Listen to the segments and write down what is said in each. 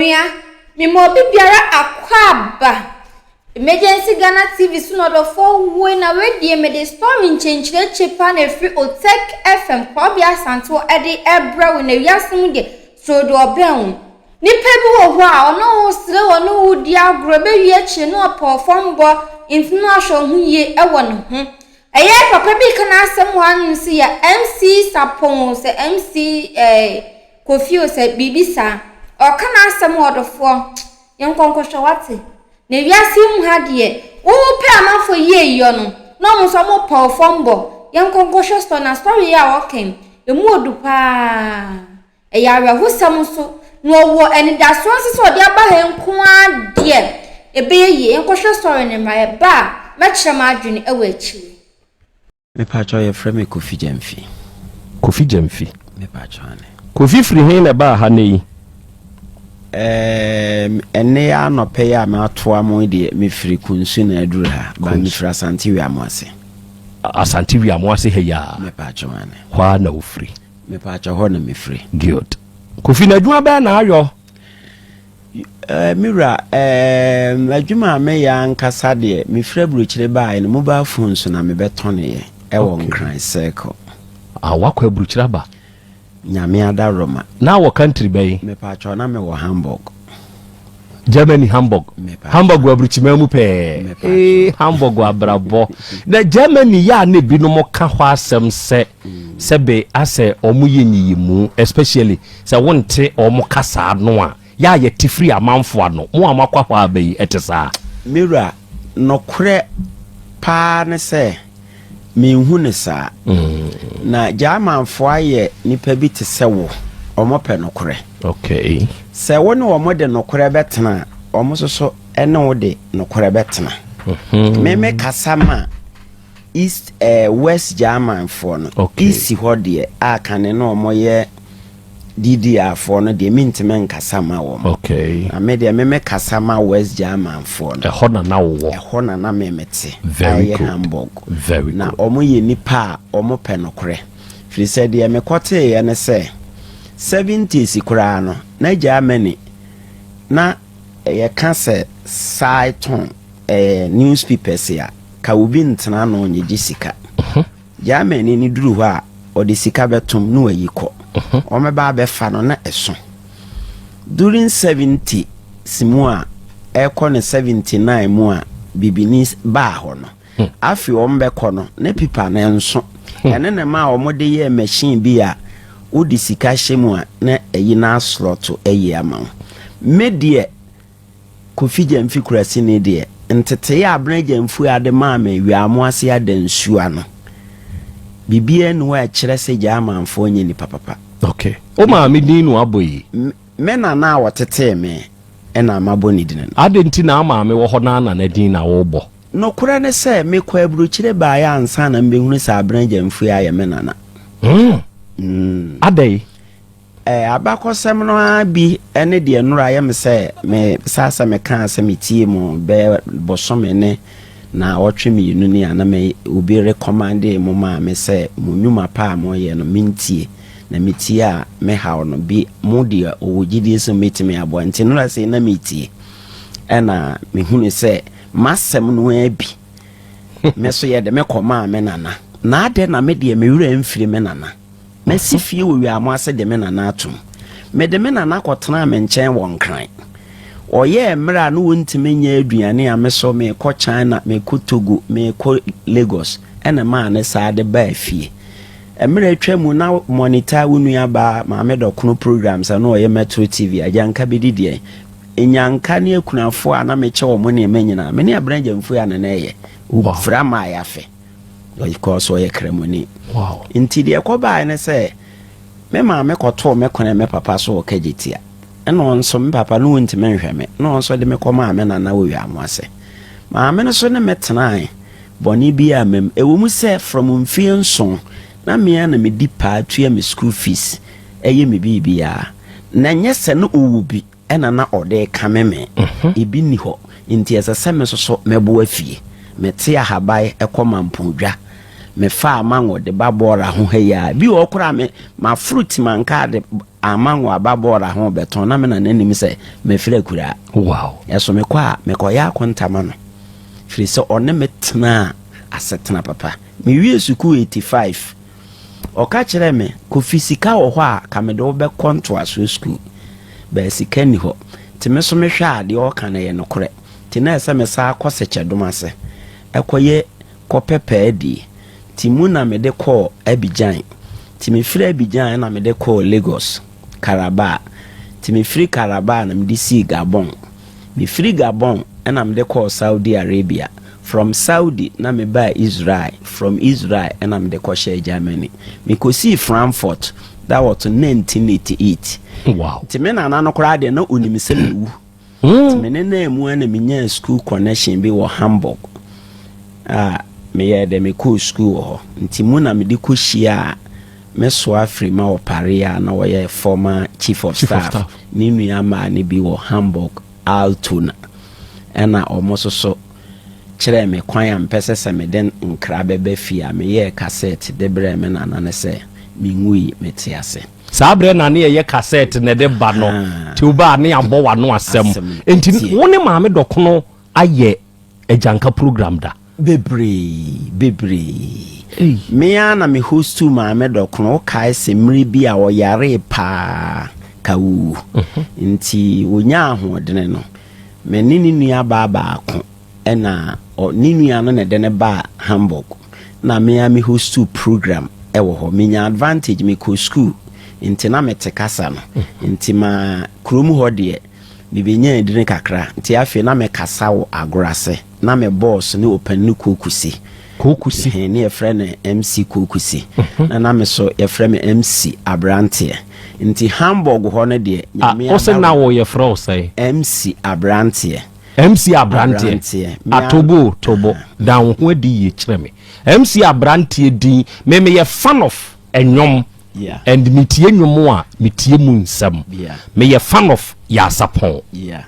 Onua, me ma obi biara akwaaba. Emergency Ghana TV so na ɔdɔfoɔ woi na wei deɛ mede Stormy nkyenkyerɛkye paa na ɛfiri Otech FM Korabea Asantew de ɛbrɛ wo na wiase mu deɛ soro deɛ ɔbɛn wo. Nipa bi wɔ hɔ a ɔne wo sere wɔ ne wo di agorɔ ɛbɛwie akyire no ɔpɛ ɔfam bɔ nti no ahwɛ wo ho yie ɛwɔ ne ho. Ɛyɛɛ papa bi ka n'asɛm wɔ hanom se yɛ MC Sapon sɛ MC ɛɛ. Kofi o sɛ biribi saa ɔka n'asɛm o ɔdɔfoɔ yɛnkɔ nkɔhwɛ wate na wiase yi mu ha deɛ wopɛ amanfoɔ yi ayiyɔ no na ɔmo nso ɔmo pɛ ɔfɔ mbɔ yɛnkɔ nkɔhwɛ story na story yi a ɔka yi emu odu paa ɛyɛ awerɛhosɛm nso na ɔwɔ anidasoɔ nso sɛ ɔde aba ha yi nko ara deɛ ɛbɛyɛ yie yɛnkɔhwɛ story no mmra yɛba a mɛkyerɛ m'adwene wɔ akyire. Me pakyɛw yɛfrɛ me Kofi Gyamfi. Kofi Gyamfi. Me pakyɛw ane. Kofi firi he na ɛbaa ha nɛ yi? Ɛɛm, ɛnɛ yɛ anɔpɛ yɛ a matoa mo deɛ mefiri Kunsu na aduru ha. Ba mefiri Asante Wiamo ase. Asante Wiamo ase ha yi a? Me pakyɛw ane. Hɔ a na wofiri? Me pakyɛw hɔ na mefiri. Good. Kofi na adwuma bɛɛ na ayɔ? Ɛɛ, me wura, ɛɛm, adwuma a meyɛ ankasa deɛ, mefiri aburokyire baeɛ no, mobile phone so na mebɛtɔneeɛ ɛwɔ Okay. Nkran Circle. Ah, wakɔ aburokyire aba. Nyame adaworoma. Na wɔ country bɛn? Mepaatwɔ na mewɔ Hamburg. Germany Hamburg. Mepa- Hamburg wɔ aburukyiman mu pɛɛ. Mepa- Ee, Hamburg wɔ abrabɔ. Na Germany yɛ a na ebinom ka hɔ asɛm sɛ Sɛ bɛ asɛ ɔmo yɛ nyiyimu especially sɛ wo nte ɔmo kasa ano a, yɛ a yɛ te firi amanfo ano, mo a mo akɔ hɔ aba yi ɛte saa? Me wura, nokorɛ paa ne sɛ me nhu no saa. Na Gyamanfoɔ ayɛ nipa bi te sɛ wo, ɔmo pɛ nokorɛ. Okay. Sɛ wo ne ɔmo de nokorɛ bɛ tena a, ɔmo nso so ɛne wo de nokorɛ bɛ tena. Me me kasa ma. East ɛɛ West German foɔ no. Okay. East hɔ deɛ a kane no wɔn yɛ DDR foɔ no deɛ mi ntoma nkasa ma wɔn. Okay. Na me deɛ me me kasa ma West German foɔ no. Ɛhɔ na na wowɔ. Ɛhɔ na na me me te. Very good. Ayɛ Hamburg. Very good. Na wɔn yɛ nipa a wɔn pɛ no korɛ. Firisɛ deɛ me kɔ tee yɛ ne sɛ seventies koraa no na Germany na yɛ ka sɛ Saiton. Ɛɛ newspapers a, ka obi ntena ano nyegye sika. Germany no duru hɔ a, ɔde sika bɛtom na wayi kɔ. Wɔbɛba abɛfa no na ɛso. During 70s mu a, ɛkɔ no 79 mu a bibini baa hɔ no, afei wɔbɛkɔ no na pipa no nso. Ɛno na ɛma a wɔde yɛɛ machine bi a wode sika hyɛ mu a na ayi no asorɔto ayi ama wo. Me deɛ, Kofi Gyamfi Kurasini deɛ, ntetee a Abena Gyamfua de maa me Weaamo ase Adansua no, biribiara nni hɔ a ɛkyerɛ sɛ Gyamanfoɔ nyɛ nnipa papa. Ok. Wo maame din na wabɔ yi? Me, me nana a ɔtetee me na mabɔ ne dini no. Adɛn nti na wo maame wɔ hɔ na wo nana din na wobɔ? Nokorɛ ne sɛ, mekɔɔ aburokyire baeɛ ansa na mebɛhunu sɛ Abena Gyamfua yɛ me nana. Hmm. Mm. Adɛn? Abakɔsɛm no ara bi ne deɛ nnora ayɛ me sɛ mesaa sɛ meka a sɛ metie mu bɛyɛ bosome ne naawɔtwe mmienu ni a na me obi rekɔmande mo maame sɛ mo nnwuma pa a moreyɛ no mentie na metie a mehaw no bi mo deɛ ɔwɔ gyidie sɛ mɛtumi aboa nti nnora sei na metie ɛna mehunu sɛ m'asɛm no ara bi me so yɛ de mekɔmaa me nana na adɛn na me deɛ me werɛ mfiri me nana Masi fie wɔ Wiaamo ase de me nana atom. Mede me nana kɔtenaa me nkyɛn wɔ Nkran. Ɔyɛɛ mmerɛ a na ɔntumi nyɛ aduane a me so merekɔ China, merekɔ Togo, merekɔ Lagos na ɛmaa ne saa de baa fie. Mmerɛ atwa mu na monitor wo nuabaa Maame Dɔkono programs a na ɔyɛ Metro TV, Agyanka bɛdi deɛn? Nyanka ne akunafoɔ a na mekyɛ wɔn nneɛma nyinaa, me ne Abena Gyamfui a na na ɛyɛ, Ufra Maayafe. Ɔkɔɔ so ɔyɛ Kramoni. Nti deɛ ɛkɔbaeɛ ne sɛ me maame kɔtoo me kone me papa so wɔ Kagyetia. Ɛna ɔno nso me papa no ntumi nhwɛ me na ɔno nso de me kɔmaa me nana wɔ Wiamoase. Maame no so ne me tenae bɔne biara amma mu. Ɛwɔ mu sɛ from mfeɛ nson na me ara na medi paa tua me school fees, yɛ me biribiara. Na ɛnyɛ sɛ na ɔwɔ bi. Ɛna na ɔde rekame me. Ebi nni hɔ, enti ɛsɛ sɛ me soso mɛboa fie. Mete Ahabae kɔ Mampondwa. Mefaa mango de ba Bora ho ha yi ara. Bi wɔ hɔ koraa a me, maforo Timankaa de amango aba Bora ho rebɛtɔn na me nana nnim sɛ mafiri akuraa. Wow! Ɛso mekɔ a, mekɔyɛ akonta ma no, firi sɛ ɔne me tenaa asetena papa. Mewiee sukuu 85. Ɔka kyerɛɛ me, Kofi, sika wɔ hɔ a, ka mede wo bɛkɔ ntoasoɔ sukuu. Bɛɛ sika nni hɔ. Nti me nso mehwɛ a, deɛ ɔreka no yɛ nokorɛ. Nti na ɛsɛ sɛ mesan kɔ Sekyɛdom ase kɔyɛ kɔpɛ paa die. Nti mu na mede kɔɔ Abidjan. Nti mefiri Abidjan na mede kɔɔ Lagos, Calabar. Nti mefiri Calabar na mede sii Gabon. Mefiri Gabon na mede kɔɔ Saudi Arabia, from Saudi na mebaa Israel, from Israel na mede kɔhyɛɛ Germany. Mekɔsii Frankfurt, that was 1988. Nti me nana no koraa deɛ na ɔnim sɛ mawu. Nti me ne naa mu a na menyaa school connection bi wɔ Hamburg a meyɛɛ dɛ mekɔɔ school wɔ hɔ. Nti mu na mede kɔhyiaa Me soa afiri ma ɔpareɛ a na ɔyɛ former chief of staff ne nua mmaa no bi wɔ Hamburg, Altona. Ɛna wɔn nso so kyerɛɛ me kwan a mepɛ sɛ sɛ mede nkra bɛba fie a, meyɛɛ kasɛɛt de brɛɛ me nana no sɛ, Menwui, mete ase. Saa berɛ na ne yɛyɛ kasɛɛt na ɛde ba no, Teobaa, ne yɛabɔ w'ano asɛm. Enti wo ne Maame Dɔkono ayɛ agyanka program da. Bebree, bebree. Ei. Me ara na me hostuu Maame Dɔkono, wokae se mmere bi a ɔyaree paa ka ɔwu. Mhm. Nti ɔnyaa ahoɔdene no, me ne ne nua baa baako na ɔ, ne nua no na ɛde no baa Hamburg. Na me ara me hostuu program wɔ hɔ. Menya advantage, mekɔ sukuu, nti na mete kasa no. Mhm. Nti ma kurom hɔ deɛ, Mibenyaa adwene kakra, nti afei na mekasa wɔ agorɔ ase. Ná me bɔs ne ɔpanin no Kookusi. Kookusi? Ɛhɛn, na yɛfrɛ no MC Kookusi, na na me so yɛfrɛ me MC Aberanteɛ. Nti Hamburg hɔ no deɛ, Nyame adawom. A, wo se na wo yɛfrɛ wo sɛn? MC Aberanteɛ. MC Aberanteɛ? Aberanteɛ. Me ara. Atobo, tobo, da wo ho adi yie kyerɛ me. MC Aberanteɛ din, me meyɛ fan of nnwom. and me tie nwom a me tie mu nsɛm me yɛ fan of yaasapɔn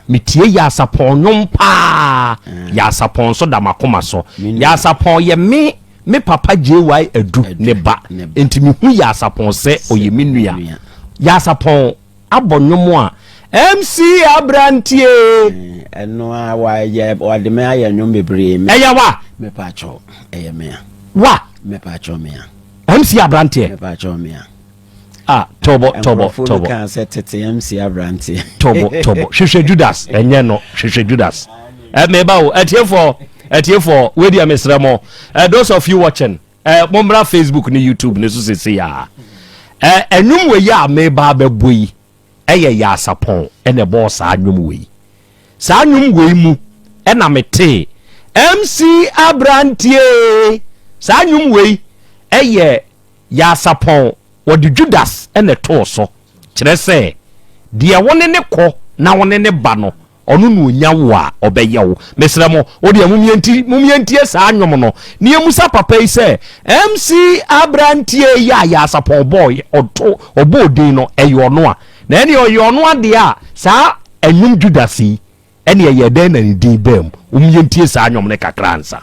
me tie yaasapɔn nwom paa yaasapɔn nso da makoma so yaasapɔn yɛ me me papa JY Adu ne ba nti me hu yaasapɔn sɛ ɔyɛ me nua yaasapɔn abɔ nnwom a MC Abranteɛ. Ɛno a wa yɛ wa de me ayɛ nnwom bebree. Ɛyɛ wa. Me pa atwɔ ɛyɛ mea. Wa. Me pa atwɔ mea. MC Abranteɛ. Me pa atwɔ mea. Ah tɔbɔ tɔbɔ tɔbɔ. Nkurɔfoɔ no kan sɛ tete MC Abranteɛ. Tɔbɔ tɔbɔ hwehwɛ Judas ɛnyɛ no hwehwɛ Judas. Ɛ mɛ ba o ɛtiefɔ ɛtiefɔ wei deɛ mesrɛ mo. Ɛ those of you watching. Eh, mommra facebook ne youtube ne so sesei a eh, ɛnwom wei a meba abɛbɔ yi ɛyɛ eh, yaasapɔn ɛna eh, ɛbɔɔ saa nnwom wei saa nnwom wei mu ɛna eh, metee mc abrantie saa nnwom wei ɛyɛ eh, yaasapɔn wɔde judas ɛna ɛtoo so kyerɛ sɛ deɛ wo ne ne kɔ na wo ne ne ba no Ɔno na ɔnya wo a, ɔbɛyɛ wo. Mesrɛ mo, wo deɛ mom yɛnti, mom yɛntie saa nnwom no, na yɛmmusa papa yi sɛ, MC aberanteɛ yi a Yaasapɔn bɔɔyɛ, ɔto, ɔbɔɔ din no, ɛyɛ ɔno a? Na ɛneɛ ɔyɛ ɔno a deɛ a, saa nnwom Judas yi, ɛneɛ ɛyɛɛ dɛn na ne din baa mu? Mom yɛntie saa nnwom no kakra ansa.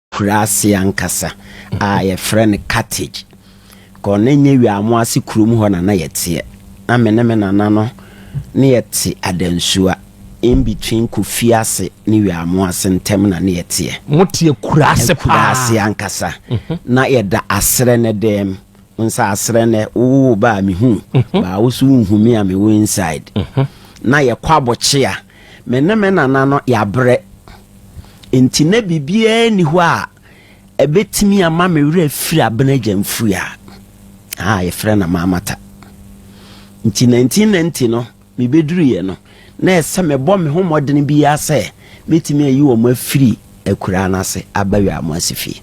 kuraase ankasa a yɛfrɛ no Carthage. Kɔ na ɛnyɛ wie a mo ase kurom hɔ na na yɛteɛ. Na me ne me nana no ne yɛte Adansua, in between Kofi ase ne wie a mo ase ntɛm na ne yɛteɛ. Mo teɛ kuraase paa. Kuraase ankasa. Na yɛda aserɛ nɛ dɛm. Wohu sɛ aserɛ nɛ wo wo wo ba a me hu, baa wo so wo nhu me a me wo inside. Na yɛkɔ abɔkyea. Me ne me nana no yɛabrɛ, enti na biribiara nni hɔ a ɛbɛtumi ama me werɛ afiri abena agya mfuiɛ a yɛfrɛ no Maamata. Nti 1990 no mebɛduruiɛ no, na ɛsɛ mebɔ me ho mmɔdene biara sɛ mɛtumi ayi wɔn afiri akuraa no ase aba Wiamoase fie.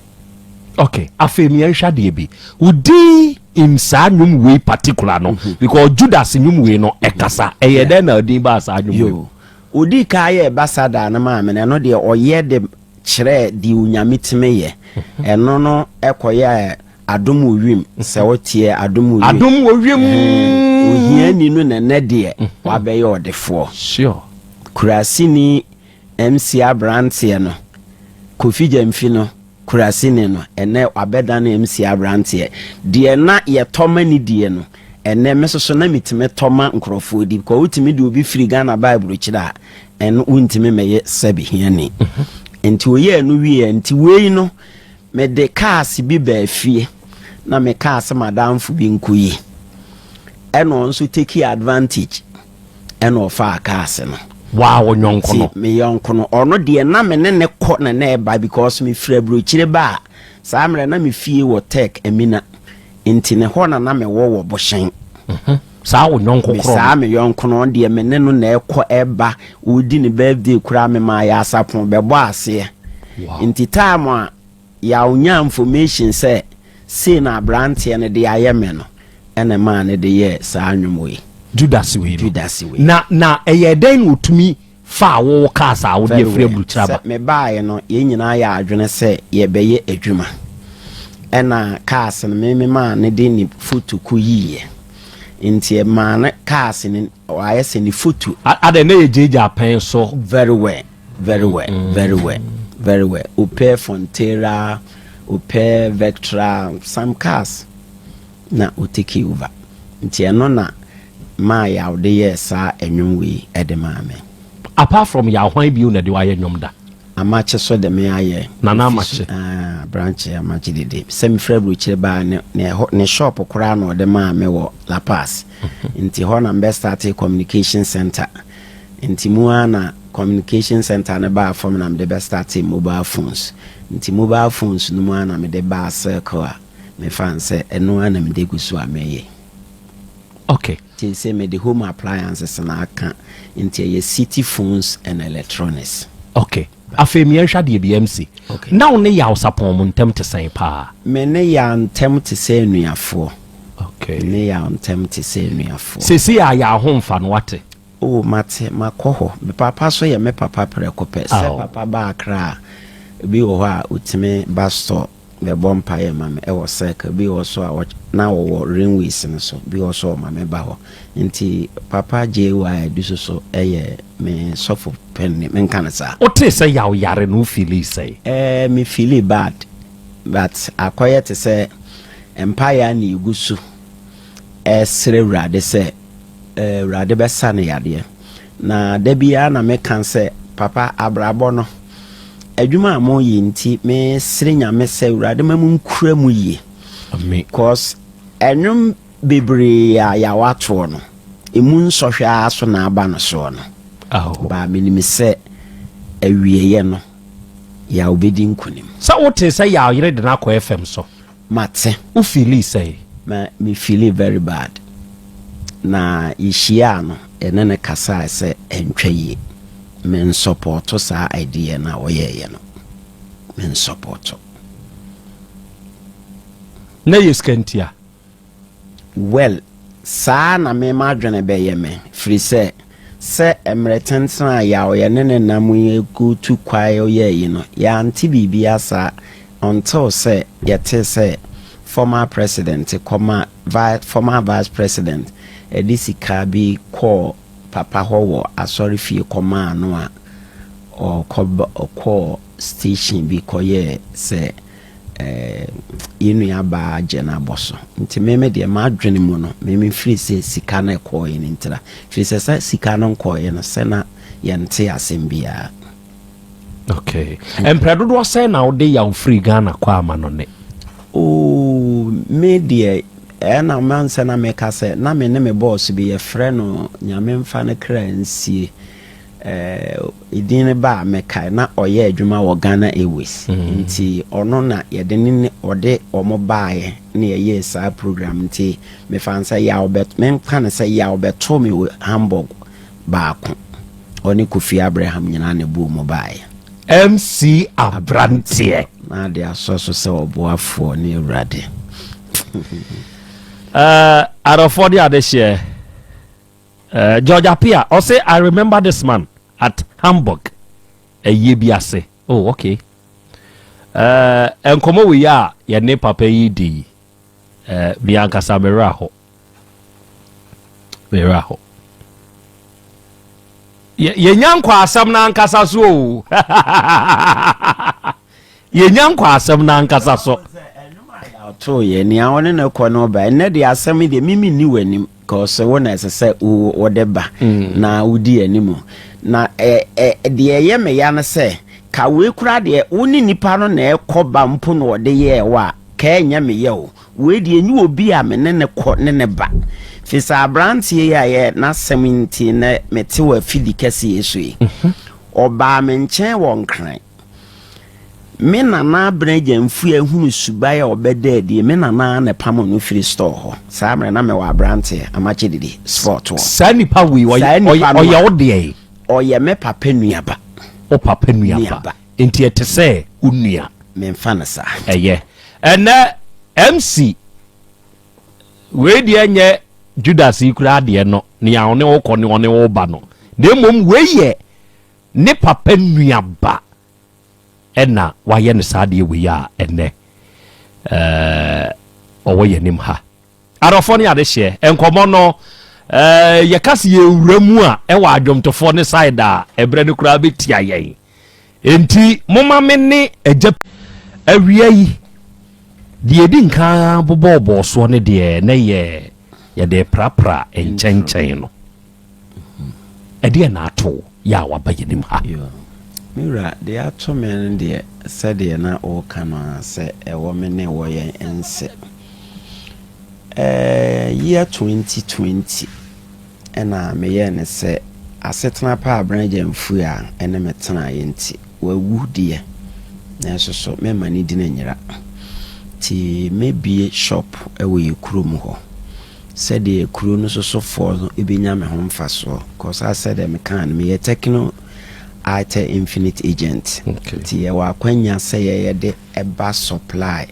Ok afei meɛ nhwɛ adeɛ bi wo din im saa nnwom wei particular no mhm. because Judas nnwom wei no ɛkasa ɛyɛ dɛn na din baa saa nnwom wei. Odi ka yɛ ɛbasada no maame no ɛno deɛ ɔyɛ de kyerɛ deɛ onyame tumi yɛ mhm. ɛno no ɛkɔyɛ adom wɔ wiem mhm. sɛ woteɛ adom wɔ wiem adom wɔ wiem ohiani no nɛnɛ deɛ wabɛyɛ ɔdefoɔ sure kurasini MC aberanteɛ no, Kofi Gyamfi no, Kurasini no, ɛnnɛ wabɛdane MC aberanteɛ. Deɛ na yɛtɔ ma no die no, ɛnnɛ me nso so na metumi tɔ ma nkurɔfoɔ di. Kɔ wotumi de obi firi Ghana ba aburokyire a, ɛno wontumi mmɛyɛ sɛbe hiani. Nti oyɛɛ ɛno wieɛ, nti wei no mede kaase bi baa fie na mekaa sɛ m'adamfo bi nkɔyi. Ɛna ɔno nso tekii advantage. ɛna ɔfaa kaase no. Waa wo yɔnko no. Me yɔnko no ɔno deɛ na me ne ne kɔ na na ɛba because me firi aburokyire ba a saa mmerɛ na me fie wɔ tech amina nti ne hɔ na na me wɔ wɔ bohyɛn. Mhm. saa wo yɔnko korɔ no. saa me yɔnko no deɛ me ne no na ɛkɔ ɛba ɔdi ne birthday koraa me maa yɛ asapon bɛbɔ aseɛ nti time a Yaw nyaa information sɛ sei na abranteɛ no de ayɛ me no ɛna ɛmaa no de yɛɛ saa nnwom wei. Judas wei no. Judas wei. Na na ɛyɛɛ dɛn na ɔtumi faa wo wo kaa saa wode afiri aburukyire aba? Sɛ me baaeɛ no yɛn nyinaa yɛɛ adwene sɛ yɛbɛyɛ adwuma ɛna cars no me me maa no de ne photo kɔ yiiɛ nti ɛmaa no cars no W'ayɛ sɛ ne foto. Adɛn na yɛ gyaagyaa pɛn so. Very well very well very well very well opɛ Frontera opɛ Vectra some cars na o take over nti ɛno na maa yaw de yɛɛ saa ɛnwom wei ɛde maa me. Apart from yaw hwan bio na ɛde wo ayɛ nwom da? Amakye so de me ayɛ. Nana Amakye. Aah Branche Amakye dede sɛ me firi aburokyire baa ne ne shop koraa na ɔde maa me wɔ La Paz. nti hɔ na mbɛ startee communication center nti mu aa na communication center no baa fɔm na mede bɛ startee mobile phones nti mobile phones no mu aa na mede baa circle a me fa no sɛ ɛno aa na mede gu so a mɛ yɛ ok nti sɛ mede home appliances na aka nti ɛyɛ city phones and electronics. Ok. Afei me yɛnhwɛ adeɛ bi MC. Na wo ne Yaw Sapɔn mo ntɛm te sɛn paa? Me ne Yaw ntɛm te sɛ anuafoɔ. Me ne Yaw ntɛm te sɛ anuafoɔ. Seesei a Yaw ho mfa no wate? Oh mate, makɔ hɔ. Me papa so yɛ me papa prɛko pɛ. Sɛ papa ba Accra a, ebi wɔ hɔ a ɔtumi ba store. bɛbɔ mpaeɛ ma me wɔ circle bi wɔ so a na wɔwɔ rainways no so bi wɔ so ɔma me ba hɔ nti papa JY dusu so yɛ me sɔfo pɛnne me nka no saa. Wotee sɛ yaw yare no wo feeli sɛn? Ɛɛ me feeli bad but akɔyɛ te sɛ mpaeɛ a na yɛgu so ɛsrɛ awurade sɛ awurade bɛsa no yadeɛ. Na da biara na meka sɛ, Papa, abrabɔ no, adwuma a moyɛ nti, mesere Nyame sɛ Awurade ma mo nkura mu yie. Amen. Cause ɛnwom bebree a yɛawa toɔ no, ɛmu nsɔhwɛ ara so na aba no soɔ no. Aho. Baa menim sɛ awieɛ no, Yaw bɛdi nkunim. Sɛ wotee sɛ Yaw yere de no akɔ FM so. Mate. Wo feeli sɛn? Me me feeli very bad. Na yehyiaa no yɛne no kasae sɛ ɛntwa yie. Me nsɔpɔɔto saa idea no a ɔyɛeɛ no. Me nsɔpɔɔto. Na ɛyɛ sika nti a? Well, saa na me m'adwene bɛyɛ me, firi sɛ, sɛ mmerɛ tentene a yɛ a ɔyɛ ne ne nam yi gu tu kwae ɔyɛɛ yi no, yɛ ante biribiara saa, until sɛ yɛ tee sɛ former president kɔma vi, former vice president de sika bi kɔɔ papa hɔ wɔ asɔre fie kɔmaa no a ɔkɔ, ɔkɔɔ station bi kɔyɛɛ sɛ yɛn nua baa Jen abɔso. Nti me me deɛ m'adwene mu no me me firi sɛ sika no ɛkɔɔɛ no ntira. Firi sɛ sɛ sika no nkɔɔɛ no sɛ na yɛnte asɛm biara. Okay. Mpira dodoɔ sɛ na wode yaw firi Ghana kɔ ama no ne? Oh, me deɛ ɛna mansɛ na meka sɛ na me ne me bɔɔso bi yɛfrɛ no nyame mfa no kra nsie. Eh din no ba a mekae na ɔyɛ adwuma wɔ Ghana Airways nti ɔno na yɛde ne ne ɔde wɔn baeɛ na yɛyɛɛ saa program nti mefaa no sɛ yaw bɛ memfa no sɛ yaw bɛtoo me wɔ Hamburg baako ɔne Kofi Abraham nyinaa na ɛbuu mu baeɛ. MC Abranteɛ. Na ade asɔ so sɛ ɔboafoɔ ne awurade. uh, adɔfoɔ de adehyeɛ. George Appiah, ɔse I remember this man at Hamburg ayie bi ase. Oh ok. Eh, nkɔmɔ wei a yɛne papa yi di yi, eh, mi ankasa me werɛ aho. Me werɛ aho. Yɛnya nkwaasɛm no ankasa so o. Yɛnya nkwa asɛm no ankasa so. Ɔtoo yɛ nea ɔne no kɔ no ba ɛnɛ deɛ asɛm yi deɛ mimi ni w'anim cause wo na ɛsɛ sɛ wode ba mm. na wodi anim na deɛ ɛyɛ me ya no sɛ ka wei koraa deɛ wo ne nipa no na ɛkɔ ba mpo na ɔde yɛɛ wɔ a ka ɛnyɛ me yɛ o wei deɛ ɛnyɛ obi a me ne ne kɔ ne ne ba firi sɛ aberanteɛ yi a yɛ n'asɛm nti na mete wɔ afidi kɛseɛ so yi mhm. ɔbaa me nkyɛn wɔ nkran Me nana Abena Gyamfua hunu suban a ɔbɛda adie. Me nana na ɛpamo no firi store hɔ. Saa mmerɛ na mewɔ aberanteɛ, amakye didi, sport wɔ. Saa nipa wei, ɔyɛ wo deɛn? Ɔyɛ me papa nuaba. Wo papa nuaba. Nti ɛte sɛ wo nua. Memfa no saa. Ɛyɛ. Ɛnɛ MC, wei deɛ nyɛ Judas yi koraa deɛ no, nea ɔne wo kɔ ne ɔne wo ba no. Na mmom wei yɛ Ne papa nuaba na wayɛ no saa adeɛ wei a ɛnnɛ ɔwɔ yɛn anim ha. Adɔfoɔ ne adehyeɛ nkɔmmɔ no, yɛka se yɛwura mu a ɛwɔ adwomtofoɔ ne side a ɛberɛ no koraa bɛtia yɛn. Enti moma me ne agya awia yi deɛ ɛdi nkan bobɔɔbɔɔ soɔ ne deɛ na yɛ yɛde prapra nkyɛnkyɛn no. Ɛdeɛn na ato wo yɛ a waba yɛn anim ha? Yoo, me wura, deɛ ato me no deɛ, sɛdeɛ na woreka no ara, sɛ ɛwɔ me ne wɔ yɛn nse. Ɛɛ, year twenty twenty, ɛna meyɛɛ no sɛ asetena pa a Bernard Gyamfui a ɛne me tenaeɛ nti, wawu deɛ, nanso so meremma ne din nyera. Nti mɛbue shop wɔ yɛn kurom hɔ. sɛdeɛ kuro no sosofoɔ no bɛnya me ho mfasoɔ cause as sɛdeɛ mekaa no meyɛ Tecno Itel Infinite Agent okay. nti yɛwɔ akwanya sɛ yɛyɛ de ɛba supply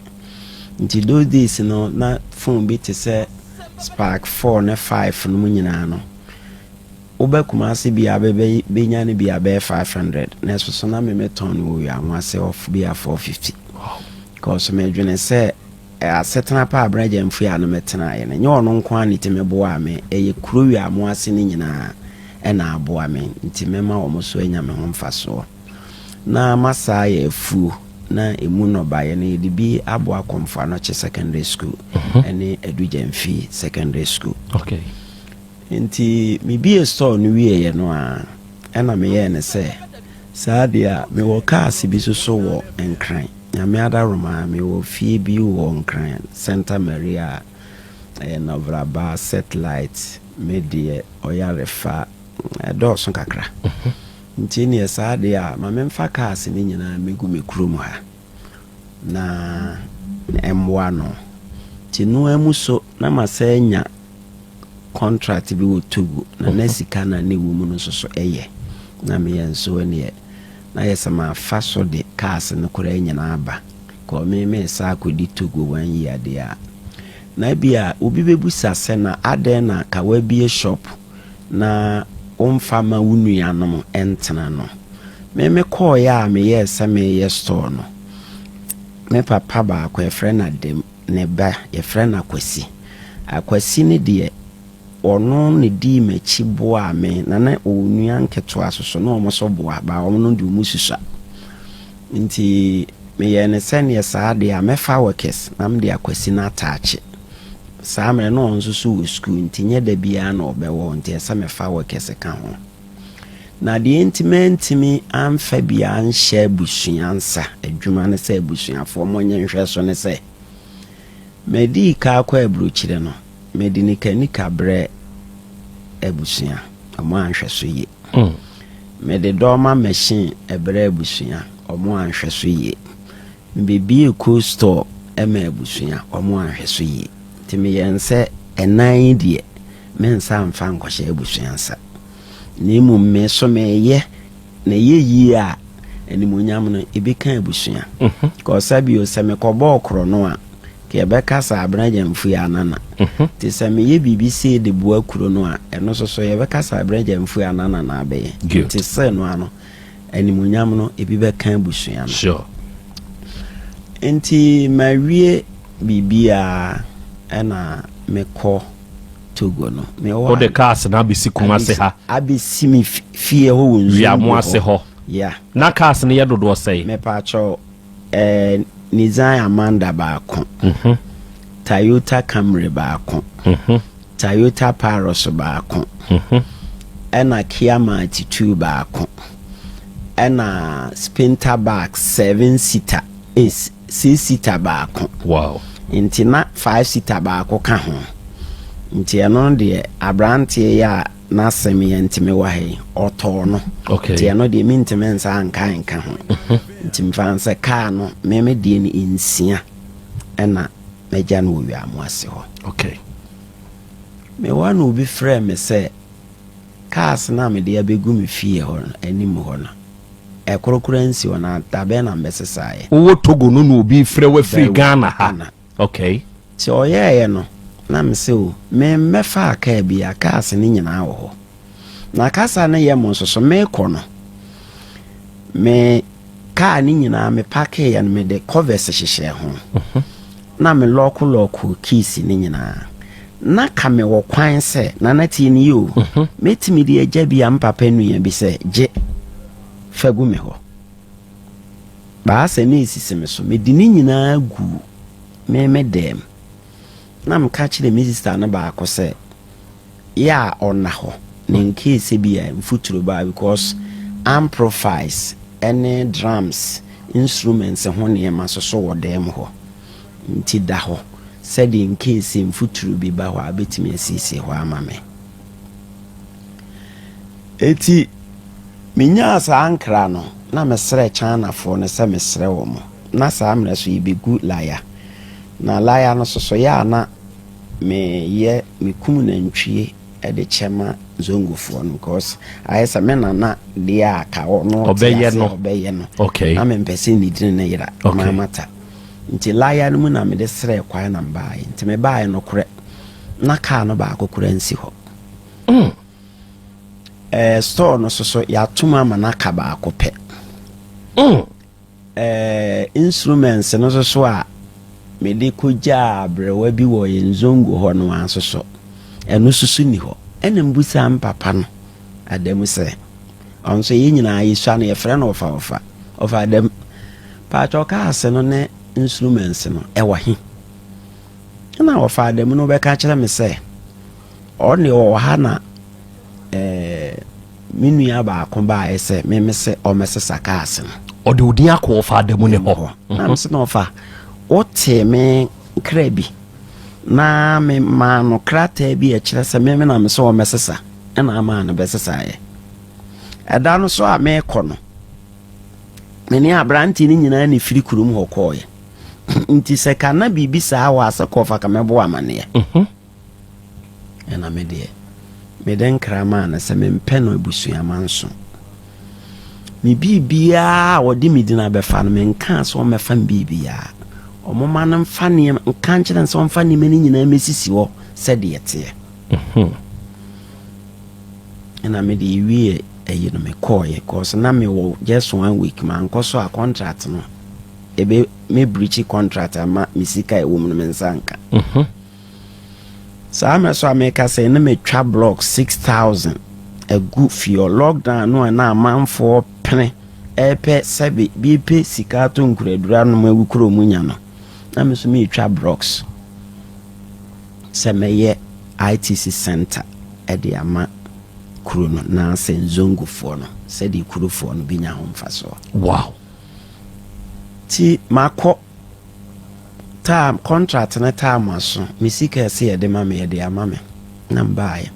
nti those days no na phone bi te sɛ spark 4 ne 5 no mu nyinaa no wobɛ Kumase bia bɛnya no bia bɛyɛ 500 na ɛso so na memetɔn no wɔ wia ho ase ɔf bia 450 cause medwene sɛ Asetena pa a Bra Gyamfua no me tenaeɛ no, nyɛ ɔno nko ara na ɛtumi boaa me, ɛyɛ kuro wei a mo ase no nyinaa na aboa me, nti mɛma wɔn nso anya me ho mfasoɔ. Na Masa yɛ afuo, na ɛmu nnɔbaeɛ no yɛde bi aboa Kɔmfo Anɔkye Secondary School ne Adu Gyamfi Secondary School. Okay. Enti mibue store no wieeɛ no ara, ɛnna meyɛɛ no sɛ, Saa deɛ a, mewɔ cars bi nso wɔ Nkran. Nyame adaworoma, mewɔ fie bi wɔ Nkran, Santa Maria, ɛyɛ Novraba, Settlight, me deɛ, Ɔyarefa, ɛdɔɔso kakra. Nti ɛnneɛ saa deɛ a, ma memfa cars no nyinaa mmɛgu me kurom ha. na mboa no ntsi no ara mu so na masan enya contract bi wɔ Togo na na sika na ne wɔ mu no so so yɛ na meyɛ nso ndeɛ na ayɛ sɛ mafa so de cars no koraa nyina aba kɔ me mesa akɔdi Togo one year deɛ a na bia obi bɛbusa sɛ na adɛn na ka wabie shop na womfa mma wo nuanom ntena no. Me mekɔeɛ a meyɛɛ sɛ mereyɛ store no, me papa baako, yɛfrɛ no Adam, ne ba, yɛfrɛ no Akwasi. Akwasi no deɛ, ɔno na dii m'akyi boaa me, na na ɔwɔ nua nketewa nso so, na wɔn nso boa, baa wɔn no deɛ wɔsusua. Nti meyɛɛ no sɛdeɛ saa deɛ a, mɛfa Workers na mede Akwasi no ataakye. Saa mmerɛ no ɔno nso so wɔ sukuu nti nyɛ da biara na ɔbɛwɔ hɔ nti ɛsɛ mefa wɔ kɛse ka ho. Na deɛ enti mantumi amfa bi anhyɛ abusua nsa adwuma ne sɛ abusuafoɔ monyɛ nhwɛso ne sɛ medii ka akɔ aburokyire no mede nika nika brɛ abusua ɔmo anhwɛ so yie. Mede dɔma machine brɛ abusua ɔmo anhwɛ so yie. Mebɛbiee cold store maa abusua, wɔn anhwɛ so yie. Nti meyɛɛ no sɛ ɛnan yi deɛ mensa amfa ankɔhyɛ abusua nsa. Na mmom me nso meyɛ na ɛyɛ yie a animuonyam no ɛbɛka abusua. Kɔɔ sa bio sɛ mekɔbɔɔ korɔno a, nka yɛbɛka sɛ Abena Gyamfui anana. Nti sɛ meyɛ biribi sei de boa kuro no a, ɛno nso so yɛbɛka sɛ Abena Gyamfui anana na abɛyɛ. Nti sɛ no ano. animuonyam no ebi bɛka abusua no. Sure. Nti mawie biribiara ɛna mekɔ Togo no. Mewɔ Wo de cars na abesi Kumasi ha. Abesi mi fie hɔ wɔ nsuo. Wiamu ase hɔ. Yeah. Na cars no yɛ dodoɔ sɛn? Mepatwɔ Nissan Amanda baako, Toyota Camry baako, Toyota Paros baako, ɛna Kia Marti Two baako, ɛna Spinter Back Seven Seater, eh, Six Seater baako. Wow. Nti na Five Seater baako ka ho. Nti ɛno deɛ aberanteɛ yi a N'asɛm yɛ ntimi wɔ ha yi, ɔtɔɔ no. Okay. Nti ɛno deɛ mentimi nsa anka nka ho. Mhm. Nti mfa no sɛ kaa no me me deɛ no nsia ɛna magya no wɔ wiamo ase hɔ. Okay. Me wa no obi frɛ me sɛ cars no a mede abɛgu me fie hɔ no anim hɔ no ɛkorokora nsi hɔ na dabɛn na mbɛsesaeɛ. Wowɔ Togo no na obi frɛ wafiri Ghana ha. Okay. Sɛ ɔyɛeɛ no, na me se o, me mmɛ faa kaa bi a, cars no nyinaa wɔ hɔ. Na kasa no yɛ mo nso so, me rekɔ no, me kaa no nyinaa me pakeeɛ no me de covers hyehyɛɛ ho. Mhm. Na me lɔɔko lɔɔko keys no nyinaa. Na ka me wɔ kwan sɛ, nana tie ne yie o, mhm. mɛtumi de agya bi a me papa nua bi sɛ, gye, fa gu me hɔ. Baasa na esisi me so. Mede ne nyinaa guu me me dɛm, na meka kyerɛɛ me sista no baako sɛ, Yɛ a ɔnna hɔ, na in case ebia mfuturo ba a, because amprifies ne drums instruments ho nneɛma nso so wɔ dɛm hɔ, nti da hɔ sɛdeɛ in case mfuturo bi ba hɔ a, wobɛtumi asiesie hɔ ama me. Enti menyaa saa nkra no na mesrɛɛ Chinafoɔ no sɛ mesrɛ wɔn, na saa mmerɛ so yɛbɛgu laya. Na laya no sosoeɛ a na meyɛ mekum nantwie de kyɛ ma Zongofoɔ no because ayɛ sɛ me nana deɛ a ka ɔno ɔte Ɔbɛyɛ aseɛ no. a ɔbɛyɛ no. Okay. Na mempɛ sɛ medini ne yera Okay. maa mata. Nti laya no mu na mede srɛɛ kwan na mebaeɛ. Nti mebaeɛ nokorɛ na kaa no baako koraa nsi hɔ. Mm. Ɛɛ store no soso yɛato mu ama no aka baako pɛ. Mm. Ɛɛ instruments no soso a mede kogyaa aberewa bi wɔ yɛn zongo hɔ no ara soso ɛno soso ni hɔ. Ɛna mbusa m papa no adamu sɛ ɔno nso yɛn nyinaa yɛsua no yɛfrɛ no ɔfa ɔfa ɔfa adamu paatwa ɔkaa ase no ne instruments no ɛwɔ he. Ɛna ɔfaa dɛm no bɛka kyerɛ me sɛ ɔne ɔwɔ ha na ɛɛ me nua baako baeɛ sɛ meme sɛ ɔmmɛsesa kaase no. Ɔde wo din akɔ ɔfaa dɛm ne hɔ. Na me se na ɔfa wotee me nkra bi na me maa no krataa bi a ɛkyerɛ sɛ meme na me sɛ ɔmmɛsesa ɛna amaa no bɛsesaeɛ. Ɛda no so a meekɔ no me ne aberante no nyinaa ne firi kurom hɔ kɔɔeɛ. nti sɛ ka na biribi saa wɔ ase kɔfa ka mɛbɔ amaneɛ mhm. ɛna me deɛ mede nkra maa no sɛ mempɛ no abusua manso me biribiaa a wɔde me dina bɛfa no menkaa sɛ ɔmmɛfa me biribiaa ɔmoma no mfa nneɛma nka nkyerɛ sɛ ɔmfa nneɛma no nyinaa mɛsisi hɔ sɛdeɛ teɛ mhm. ɛna mede ɛwieɛ ɛyi no mekɔɔyɛ cause na mewɔ just one week mankɔ so a contract no Ebe me breachi contract ama me sika a ɛwɔ mu no me nsa nka. Mhm. Saa mmerɛ so a meka sɛ na matwa block six thousand agu fio lockdown no a na amanfoɔ pene ɛrepɛ sɛbe bi pɛ sika atɔ nkuraduro anom agu kuro mu nya no na me nso meretwa blocks sɛ mɛyɛ ITC center ɛde ama kuro no na sɛ nzongofoɔ no sɛdeɛ kurofoɔ no bɛnya ho mfasoɔ. Wow. Nti makɔ taa contract no taa ma so me sika ɛsɛ yɛde ma me yɛde ama me na mbaayɛ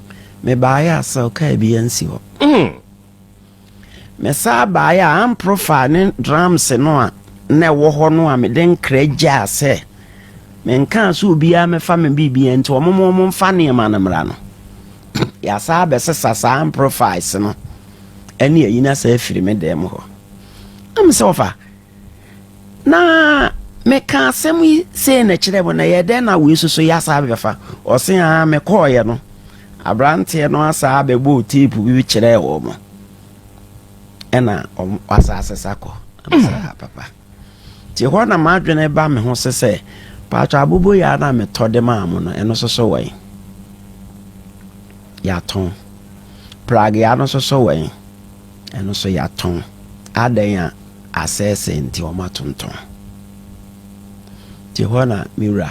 mebaayɛ a sɛ ɔkaa bi ansi hɔ mm mesaa baayɛ a amprofaa ne drums no a na ɛwɔ hɔ no a mede nkra gyaa sɛ menkaa sɛ obiara mefa me biribia nti ɔmo mo ɔmo mfa nneɛma no mmra no yɛasaa bɛsesa saa amprofies no ɛne ayina saa afiri me dan mu hɔ Am sɛ wɔfa. Na meka asɛm yi sei na kyerɛ mo na yɛ dɛn na wei soso yɛ asaa bɛfa ɔse aa mekɔɔyɛ no aberanteɛ no asaa bɛbɔɔ teepu bi kyerɛɛ wɔ mo ɛna asaa sesa kɔ saa papa nti hɔ na m'adwene ba me ho se sɛ paatwa abobo yɛ na metɔ de maa mo no ɛno soso wɔn yɛatɔn pragea no soso wɔn Ɛno nso yɛatɔn. Adɛn a? Asɛesɛe nti wɔatontɔn. Nti ɛhɔ na me wura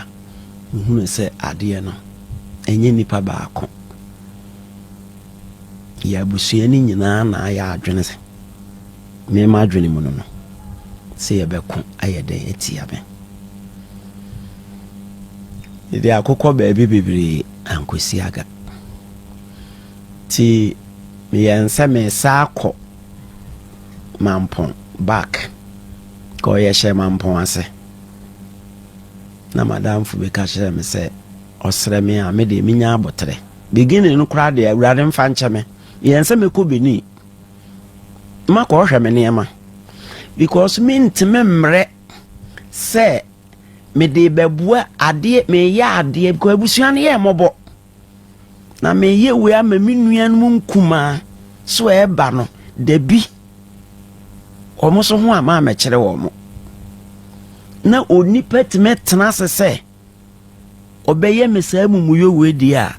hunu sɛ adeɛ no ɛnyɛ nipa baako. Yɛ abusua no nyinaa na ayɛ adwene sɛ me m'adwene mu no no sɛ yɛbɛko ayɛ dɛn atia me. Mede akokɔ baabi bebree ankɔsi aga. Nti meyɛɛ nsɛ meresan akɔ Mampong back kɔɔ yɛhyɛɛ Mampong ase na m'adamfo bi ka kyerɛɛ me sɛ ɔsrɛ me a me deɛ menya aboterɛ. Beginning no koraa deɛ Awurade mfa nkyɛ me. Meyɛɛ nsɛ mekɔ Benin makɔhwɛ me nneɛma because mentumi mmerɛ sɛ mede bɛboa adeɛ meyɛ adeɛ because abusua no yɛ mmɔbɔ. na meyɛ wei ama me nuanom nkumaa so ɛba no dabi wɔn so ho ama amɛkyerɛ wɔn na onipa tumi tena ase sɛ ɔbɛyɛ me saa mumuyɛ wei deɛ a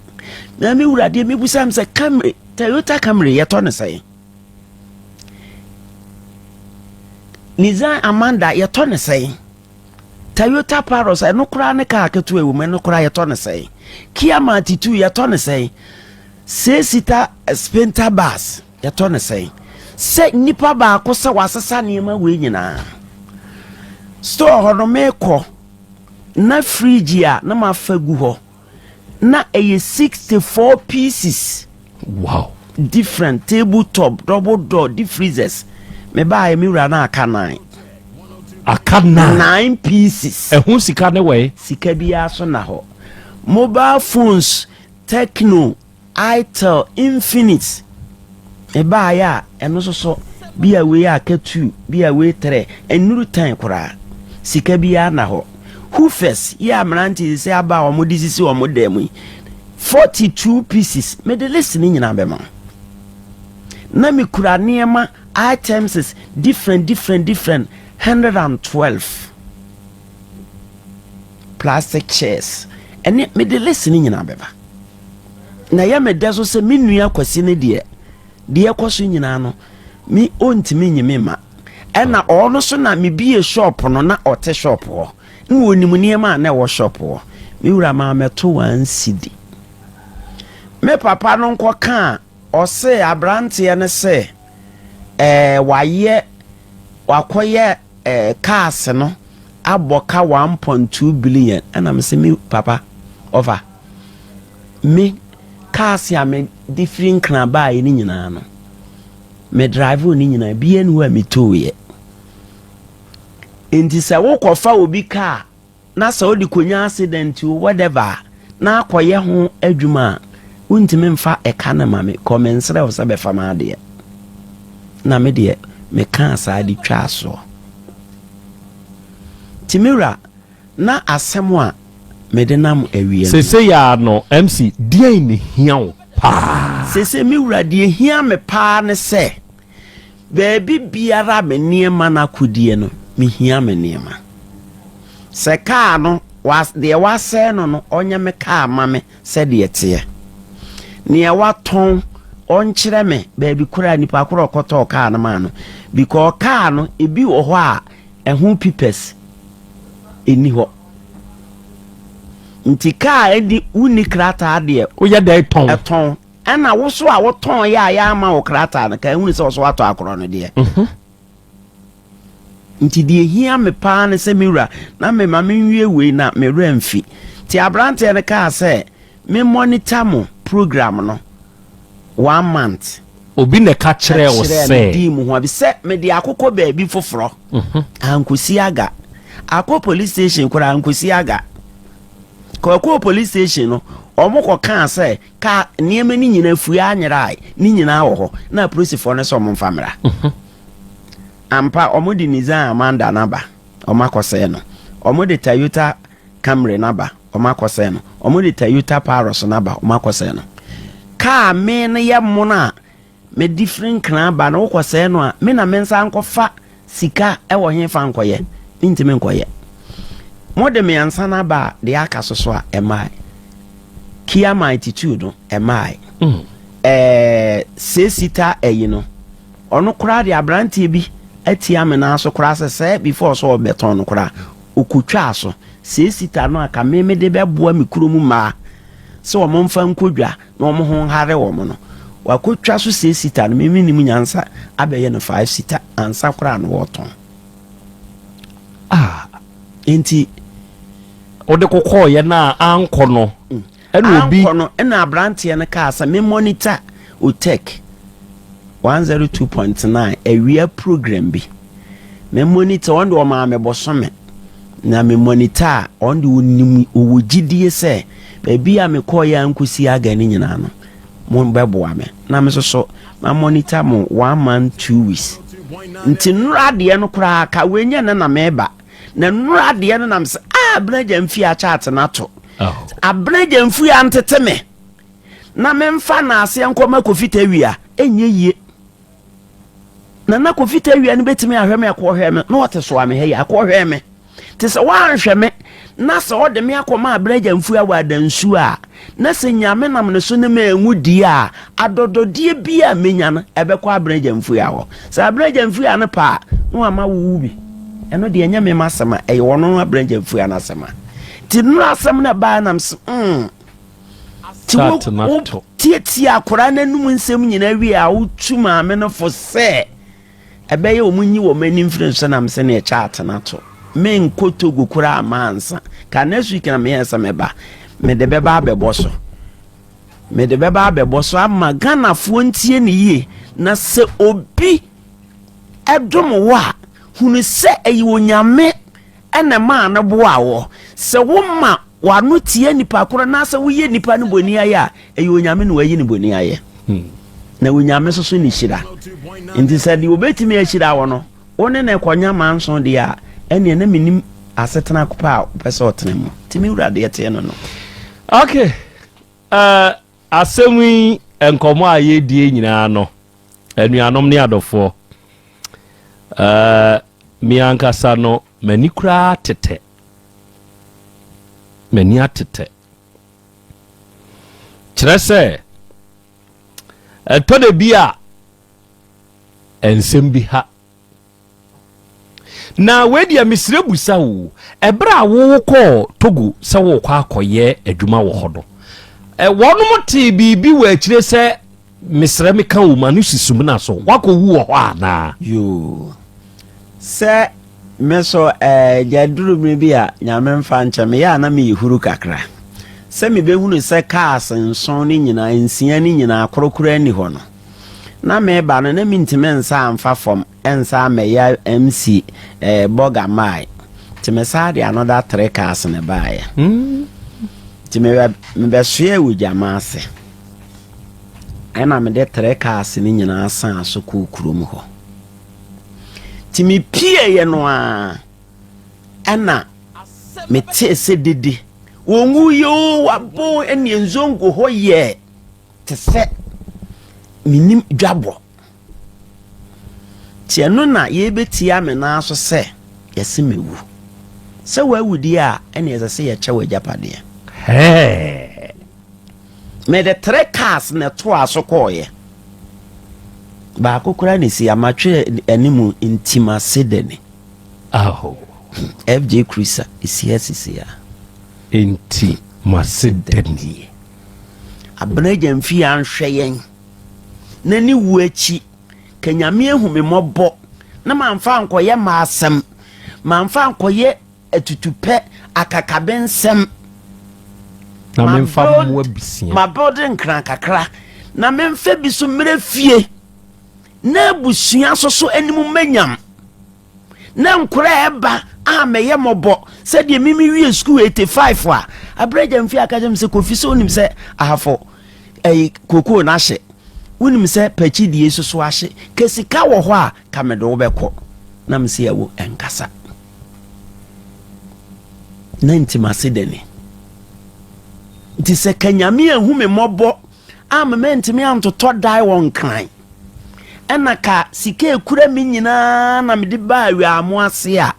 na me wura deɛ mebusa m sɛ camry toyota camry yɛtɔ no sɛn nisan amanda yɛtɔ no sɛn Toyota Paros, ɛno koraa ne kaa ketewa wɔ mu, ɛno koraa yɛtɔ no sɛn? Kia Martitu, yɛtɔ no sɛn? Six seater eh, sprinter bus, yɛtɔ no sɛn? Sɛ nipa baako sɛ wasesa nneɛma wei nyinaa. Store hɔ no meekɔ, na fridge a na mafa gu hɔ, na ɛyɛ sixty four pieces wow different table top double door deep freezers me ba ayɛ me wura na aka nine aka nine nine pieces ɛho sika ne wɛɛ sika biara so na hɔ mobile phones techno Itel Infinix baeɛ a ɛno nso so bi a wei aka two bi a wei trɛ ɛnnuru tan koraa sika biara nna hɔ Hufes yi a mmerante sisi aba a wɔde sisi wɔn dan mu yi forty two pieces mede list no nyinaa bɛma wo na mekura nneɛma items different different different hundred and twelve. plastic chairs ɛne mede list no nyinaa bɛba na ɛyɛ me dɛ so sɛ me nua kwasi no deɛ deɛ ɛkɔ so nyinaa no me ɔntumi nye me ma ɛna ɔno so na mebie shop no na ɔte shop hɔ na ɔnim nneɛma a na ɛwɔ shop hɔ me wura maa mɛto wansidi me papa no nkɔ ka a ɔse aberanteɛ no sɛ ɛɛ wayɛ wakɔyɛ Cars no abɔ ka one point two billion ɛna me se me papa ɔfa me cars a me de firi nkran baa yɛ ne nyinaa no me drive ne nyinaa bi ɛni hɔ a me too yɛ nti sɛ wokɔ fa obi car na sɛ ɔde kɔnya accident o whatever a, na akɔyɛ ho adwuma a, wontumi mfa ɛka no ma me, kɔ mensrɛ wo sɛ bɛfa m'adeɛ. Na me deɛ, mekaa saa de twaa soɔ. Nti me wura, na asɛm a mede nam awie no. Seesei ara no, MC, deɛn na ɛhia wo paa? Seesei me wura, deɛ ɛhia me paa ne sɛ. Baabi biara a me nneɛma no akɔdie no, mehia me nneɛma. Sɛ kaa no, deɛ wasɛe no no, ɔnyɛ me kaa ma me sɛdeɛ ɛteɛ. Neɛ watɔn, ɔnkyerɛ me baabi koraa nipa korɔ ɔkɔtɔɔ kaa no maa no. Because kaa no, ebi wɔ hɔ a, ɛho pipɛs ɛni hɔ. Nti kaa ɛni, wonni krataa deɛ. Woyɛ dɛn tɔn? Ɛtɔn. Ɛna wo so a wo tɔn yɛ a yɛ ama wo krataa no, kan hunu sɛ ɔso atɔ akorɔ no deɛ. Mhm. Nti deɛ hia me paa ne sɛ me wura na me ma menwie wei na me wura mfi. Nti abranteɛ no kaa sɛ me monitor mo program no one month. Obi na ɛka kyerɛɛ wo sɛ. Ɛkyerɛɛ me dii mu ho abi sɛ me de akokɔ baabi foforɔ. Mhm. Ankosi aga. Akɔ police station koraa ankosi aga. Kɔkɔɔ police station no wɔn kɔ kaa sɛ Ka nneɛma no nyinaa fui ara nyerae. Ne nyinaa wɔ hɔ. Na apolisifoɔ no sɛ wɔn mfa mmra. Ampa, wɔn de Nissan Amanda no aba, wɔn akɔsɛɛ no. Wɔn de Toyota Camry no aba, wɔn akɔsɛɛ no. Wɔn de Toyota Paros no aba, wɔn akɔsɛɛ no. Kaa me no yɛ mono a. Medi firi nkran ba na wokɔ sɛɛ no a me na me nsa nkɔ fa sika ɛwɔ he fa nkɔyɛ me ntimi nkɔyɛ mo de me ansan aba a deɛ aka so so a ɛmae kia my attitude no ɛmae mm. ɛɛ sesita ɛyi no ɔno koraa de abranteɛ bi atia me nan so koraa sɛ sɛ before so ɔbɛtɔn no koraa okotwaa so sesita no a ka me me de bɛboa me kurom mmaa sɛ wɔn mfa nkɔ dwa na wɔn ho nhare wɔn no, wakotwa so sɛ sita no, me mennim nyansa, abɛyɛ no five sita ansa koraa no wɔtɔn. Ah, enti wode kokɔɔyɛ no a ankɔ no mm. ɛna obi ankɔ no ɛna aberanteɛ no kaa sɛ me monitor otech 102.9 awia program bi me monitor wɔn de wɔn maa me bɔsɔmɛ na me monitor wɔn de wɔn nim wɔwɔ gyidie sɛ Baabi a mekɔeɛ ara nkɔsi August no nyinaa no, mobɛboa me na me nso so ma monitor mo one month two weeks. Nti nnora adeɛ no koraa ka wei nyɛ na na meba. Na nnora adeɛ no nam sɛ ah Abena mfi akyate no ato. Abena Gyamfi antete me na memfa naaseɛ nkɔma Kofi Tawia ɛnyɛ yie. Nana Kofi Tawia no bɛtumi ahwɛ me akɔhwɛ me na ɔte soa me ha yi akɔhwɛ me te sɛ woanhwɛ me na sɛ ɔde me akɔma abragya mfuo awɔ adansuo a na sɛ nyame nam ne so ne ma ɛnwu die a adɔdɔdeɛ bi a menya no ɛbɛkɔ abragya mfuo awɔ sɛ abragya mfuo a no pa a na wama wowu bi ɛno deɛ ɛnyɛ me ma asɛm a ɛyɛ ɔno abragya mfuo a no asɛm a ti nnura asɛm no ɛbaa nam se mm Tate na to. Wo tiatia akwadaa no anum nsɛm nyinaa wie a wotu maame no fo sɛ ɛbɛyɛ wɔn nyi wɔn ani mfiri nso nam sɛ ne ɛkyɛ ate na to. Me nkɔ Togo kura ama ansa. Ka next week na me yɛ sɛ me ba. Me de bɛba abɛbɔ so. Me de bɛba abɛbɔ so ama Ghana foɔ ntie ne yie na sɛ obi ɛdom wo a hunu sɛ ɛyɛ onyame na ɛmaa no boaa wɔ. Sɛ woma w'ano tia nnipa koro anaasɛ woyɛ nnipa no boniayɛ a, ɛyɛ Onyame na wayi no boniayɛ. Na Onyame nso so ne hyira. Nti sɛ deɛ obɛtumi ahyira wo no, wo ne no kɔnya manso deɛ a, ɛneɛ na menim asetena pa a wopɛ sɛ ɔtena mu. Nti me wura deɛ teɛ no no. Okay, Asɛm yi, nkɔmmɔ a yɛredie nyinaa no, anuanom ne adɔfoɔ, eh, me ankasa no, m'ani koraa atetɛ. M'ani atetɛ. Kyerɛ sɛ, ɛtɔ da bi a, nsɛm bi ha Na wei deɛ mesrɛ busa o, ɛberɛ a wokɔɔ Togo sɛ worekɔ akɔyɛ adwuma wɔ hɔ no, wɔnom tee biribi wɔ akyire sɛ mesrɛ meka o ma no si sumina so, woakɔwu wɔ hɔ anaa? Yoo, sɛ me so ɛɛ, aduru mmerɛ bi a Nyame mfa nkyɛ me yɛ a na meyɛ huru kakra sɛ mebɛhunu sɛ cars nson no nyinaa, nsia no nyinaa korɔ koraa nni hɔ no. Na mereba no na mentumi nsa amfa fam nsa ammɛyɛ MC eh, bɔga mae. Nti mesaa de another three cars na ɛbaeɛ. Nti mebɛ mebɛsoɛɛ wɔ gyama ase. Ɛna mede three cars no nyinaa saa so kɔɔ kurom hɔ. Nti mepieeɛ no a ɛna metee sɛ dede wɔnwuiɛ o wabɔ ɛne nzongo hɔ yɛ Te sɛ menim dwabɔ. Nti ɛno na yɛbɛtia me nan so sɛ yɛse mewu. Sɛ wawu deɛ a, ɛne ɛsɛ sɛ yɛkyɛ wɔ agyapadeɛ. Hɛɛ! Mede tre cars na ɛtoaa so kɔɔeɛ. Baako koraa na ɛsi amatwerɛ anim ntima sedani. Aho. FJ Cruiser ɛsi ha sisi a. Nti masedanie. Abena agya mfii anhwɛ yɛn, na ne wu akyi, ka Nyame ahu me mmɔbɔ na mamfa ankɔyɛ m'asɛm, mamfa ankɔyɛ atutupɛ, akakabensɛm, na memfa mmoa bisia, mabɛwde nkran kakra, na memfa bi so mmerɛ fie, na abusua so so anim manyam. na nkora a ɛba a mɛyɛ mɔbɔ sɛdeɛ mimi wie sukuu 85 a aberɛ gya mfie aka kyɛm sɛ kofi sɛ wonim sɛ ahafo ɛyi kokoo no ahye wonim sɛ pakyi die soso ahye ka sika wɔ hɔ a ka mede wo bɛkɔ na me sɛ awo ɛnkasa na nti mase dɛne nti sɛ ka nyame ahu me mmɔbɔ Amma mantumi antotɔ dae wɔ Nkran. Ɛna ka sika a ɛkura me nyinaa na mede baa Awiaamo ase a,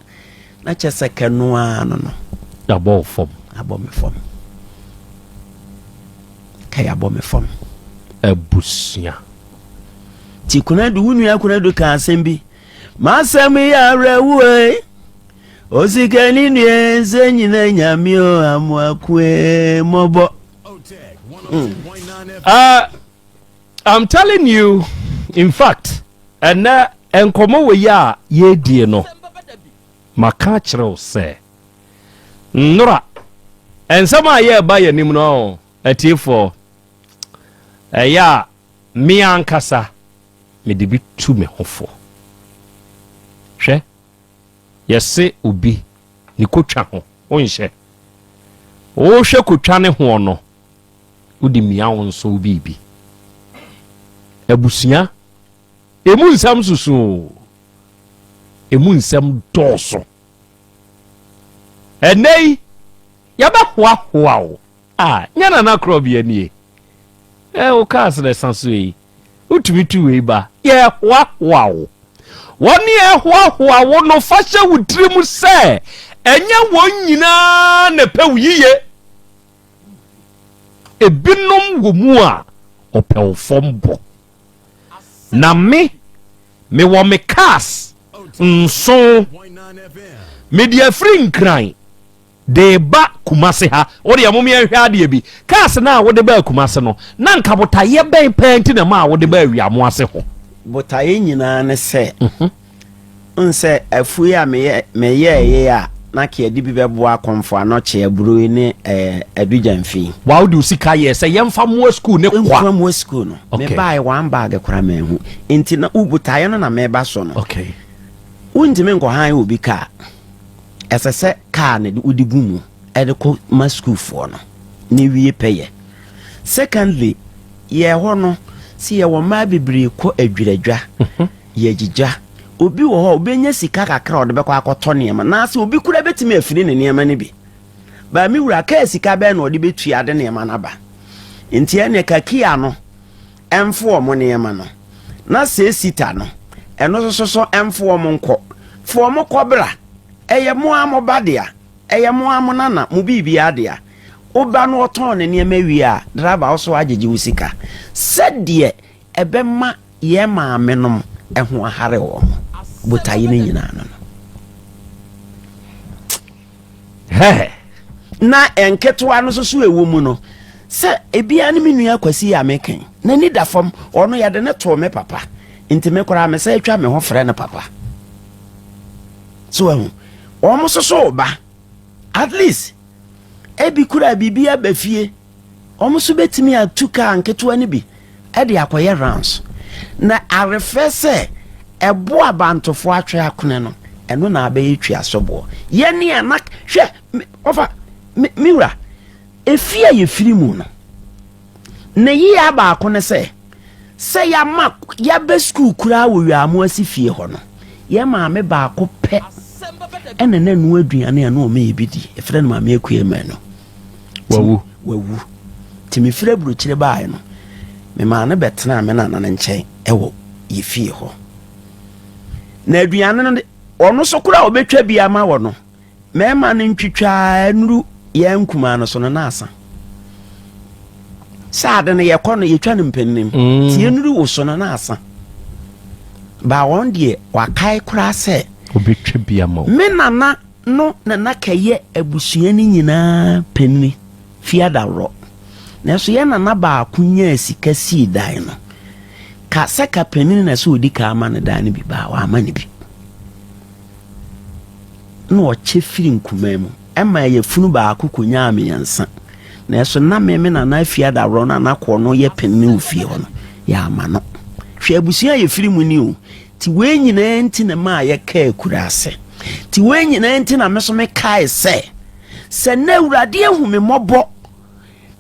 na kyɛ sɛ ka ɛno ara no no. Yɛabɔ wo fam. Abɔ me fam. Ka yɛabɔ me fam. Abusua. Ti Kunadu, wo nua Kunadu ka asɛm bi. M'asɛm yɛ awerɛhoɔ e. Osikani nua nsɛ nyina nyame o amoakoe mɔbɔ. I'm telling you, in fact, and uh, nkɔmɔ wɔ yi a yɛredie no maka akyerɛ wo sɛ nnora nsɛm a yɛreba yɛ anim no atiefoɔ ɛyɛ a me ankasa mede bi tu me ho fo hwɛ Yɛse obi ne kotwa ho wonhyɛ Wohwɛ kotwa ne hoɔ no wode mia wo nso wo biribi Abusua emu nsɛm susu oo emu nsɛm dɔɔso Ɛnnɛ yi yɛbɛ hoahoa wo ah nyɛ Nana Korɔbea nie eh wo kaa srɛ sa so ei Wotumi tu wei ba. Yɛhoahoa wo. Wɔn a ɛhoahoa wo no, fa hyɛ wo tirim sɛ ɛnyɛ wɔn nyinaa na ɛpɛ wo yiye. Ebinom wɔ mu a ɔpɛ wo fam bo. Na me, mewɔ me cars nson. Mede afiri Nkran. de reba Kumasi ha. Wo deɛ mom yɛnhwɛ adeɛ bi. Cars no a wode baa Kumasi no, na anka botaeɛ bɛn paa nti na ɛmaa wode baa Wiamoase hɔ? Botaeɛ nyinaa ne sɛ, wohu sɛ afuo yi a meyɛeɛ a, na anka yɛde bi bɛboa Akɔmfo, Anɔkye, Aburoi ne Adugyan fi. Waa wode wo sika yɛɛ sɛ yɛmfa mmoa sukuu no kwa? Yɛmfa mmoa sukuu no. Mebaeɛ one bag koraa manhu. Enti na wo botaeɛ no na mereba so no. Wontumi nkɔhan obi kaa. Ɛsɛ sɛ kaa no wode gu mu de kɔ ma sukuufoɔ no na wie pɛ yɛ. Secondly, yɛn hɔ no sɛ yɛwɔ mmaa bebree kɔ adwiradwa, yɛgyigya. Obi wɔ hɔ a ɔbɛnya sika kakra a ɔde bɛkɔ akɔtɔ nneɛma anaasɛ obi koraa bɛtumi afiri ne nneɛma no bi. Baa me wura kaa sika bɛn na ɔde bɛtua de nneɛma no aba? Nti ɛnneɛ ka kia no. ɛmfo wɔn nneɛma no, na sɛ esi ta no, ɛno nso so ɛmfo wɔn nkɔ. Fa wɔn kɔ bra. Ɛyɛ mo ara mo ba dea, ɛyɛ mo ara mo nana, mo biribiara dea. Wo ba no ɔtɔn ne nneɛma wie a, driver wo so agyegye wo sika, sɛdeɛ ɛbɛma yɛn maamenom ho ahare wɔn, botaeɛ no nyinaa no no. Hɛhɛ. Na nketewa no nso so ɛwɔ mu no sɛ ebiara ne me nua Kwasi yi a meka yi. N'ani da fam. Ɔno yɛde no too me papa. Nti me koraa mesan atwa me ho frɛ no papa. So ahu. Wɔn nso so ba. At least ebi koraa biribi aba fie. Wɔn nso betumi atu kaa nketewa no bi de akɔyɛ rounds. Na arefɛ sɛ ɛbo a bantofo atwe akone no, ɛno na abɛyɛ twiasoboɔ. Yɛ nea na hwɛ me ɔfa me me wura efie a yɛfiri mu no. Ne yea baako ne sɛ sɛ yɛama yɛabɛ sukuu koraa wɔ wiamo ase fie hɔ no, yɛn maame baako pɛ ɛna na ɛno aduane a na wɔn yɛ bi di. Ɛfrɛ no maame akua mmienu. wawu. Wawu. Nti mefiri aburokyire baeɛ no, memaa no bɛtenaa me nana no nkyɛn wɔ yɛ fie hɔ. Na aduane no de, ɔno so koraa ɔbɛtwa bi ama wɔ no, mɛma no ntwitwaa nuru yɛ nkumaa no so no na asa. Sɛ ade no yɛkɔ no yɛtwa no mpanim, mm. tie nuru wo so no na asa. Ba wɔn deɛ wakae koraa sɛ, ɔbɛtwa bi ama wo. Me nana no na na kɛyɛ abusua no nyinaa panyin fi adaworɔ. Nanso yɛn nana baako nyaa sika sii dan no. Ka sɛ ka panyin na sɛ ɔdi kan ama no dan no bi baa wama no bi. Na ɔkyɛ firi nkumaa mu. Ɛma ɛyɛ funu baako kɔnyaa mmiɛnsa. Nanso na me me nana afi adaworɔ no a na kɔɔ no yɛ panyin wɔ fie hɔ no, yɛama no. Hwɛ abusua a yɛfiri mu ni o. Nti wei nyinaa nti na ɛmaa yɛkaa akuraase. Nti wei nyinaa nti na me so mekae sɛ, sɛ nnɛ Awurade ahu me mmɔbɔ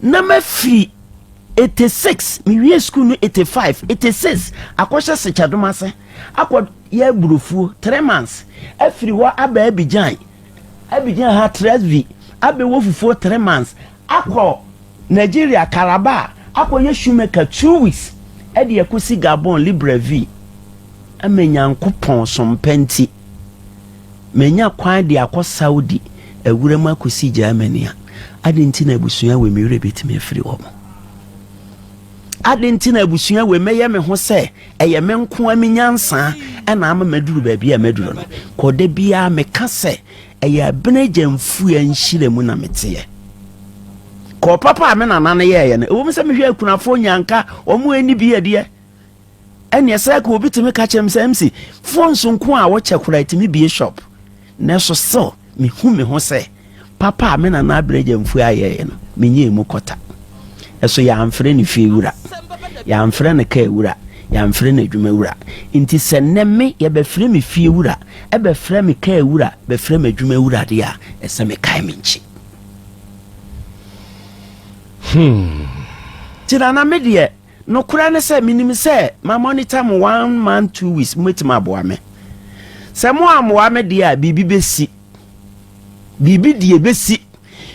na mafiri 86 mewie sukuu no 85 86 akɔhyɛ sekyadom ase akɔ yɛ aburofuo three months afiri hɔ aba abigyan abigyan ha tresvi abɛwɔ fufuo three months akɔ Nigeria, Calabar akɔyɛ shoemaker two weeks de akosi Gabon, Libreville. Ama Nyankopɔn som pa nti, manya kwan de akɔ Saudi awura mu akosi Germany a, ade nti na abusua wei me werɛ betumi afiri wɔn? Ade nti na abusua wei mɛyɛ me ho sɛ ɛyɛ me nko a me nyansa ɛna ama maduru baabi a maduru no? Kɔda biara meka sɛ Ɛyɛ Abinagya Mfua nhyiram na meteɛ. Kɔɔ papa a me nana no yɛeɛ no, ɛwom sɛ mehwɛ akunafoɔ nyinaa nka wɔn ani bi adeɛ. Ɛneɛ sɛ ka obi tumi ka kyerɛ me sɛ MC, phones nko a wokyɛ koraa ɛtumi bie shop. Nanso still, mehu me ho sɛ papa a me nana Abinagya Mfua ayɛeɛ no, menyɛ ɛmu kɔta. Ɛso yɛamfrɛ no fie wura, yɛamfrɛ no kaa wura, yɛamfrɛ no adwuma wura. Nti sɛ nnɛ me yɛbɛfrɛ me fie wura bɛfrɛ me kaa wura, bɛfrɛ me adwuma wura deɛ a, ɛsɛ mekae me nkye. Hmm. Nti nana me deɛ, nokorɛ ne sɛ menim sɛ ma monitor mo one month two weeks mobɛtumi aboa me. Sɛ mo ammoa me deɛ a biribi bɛsi. Biribi deɛ bɛsi.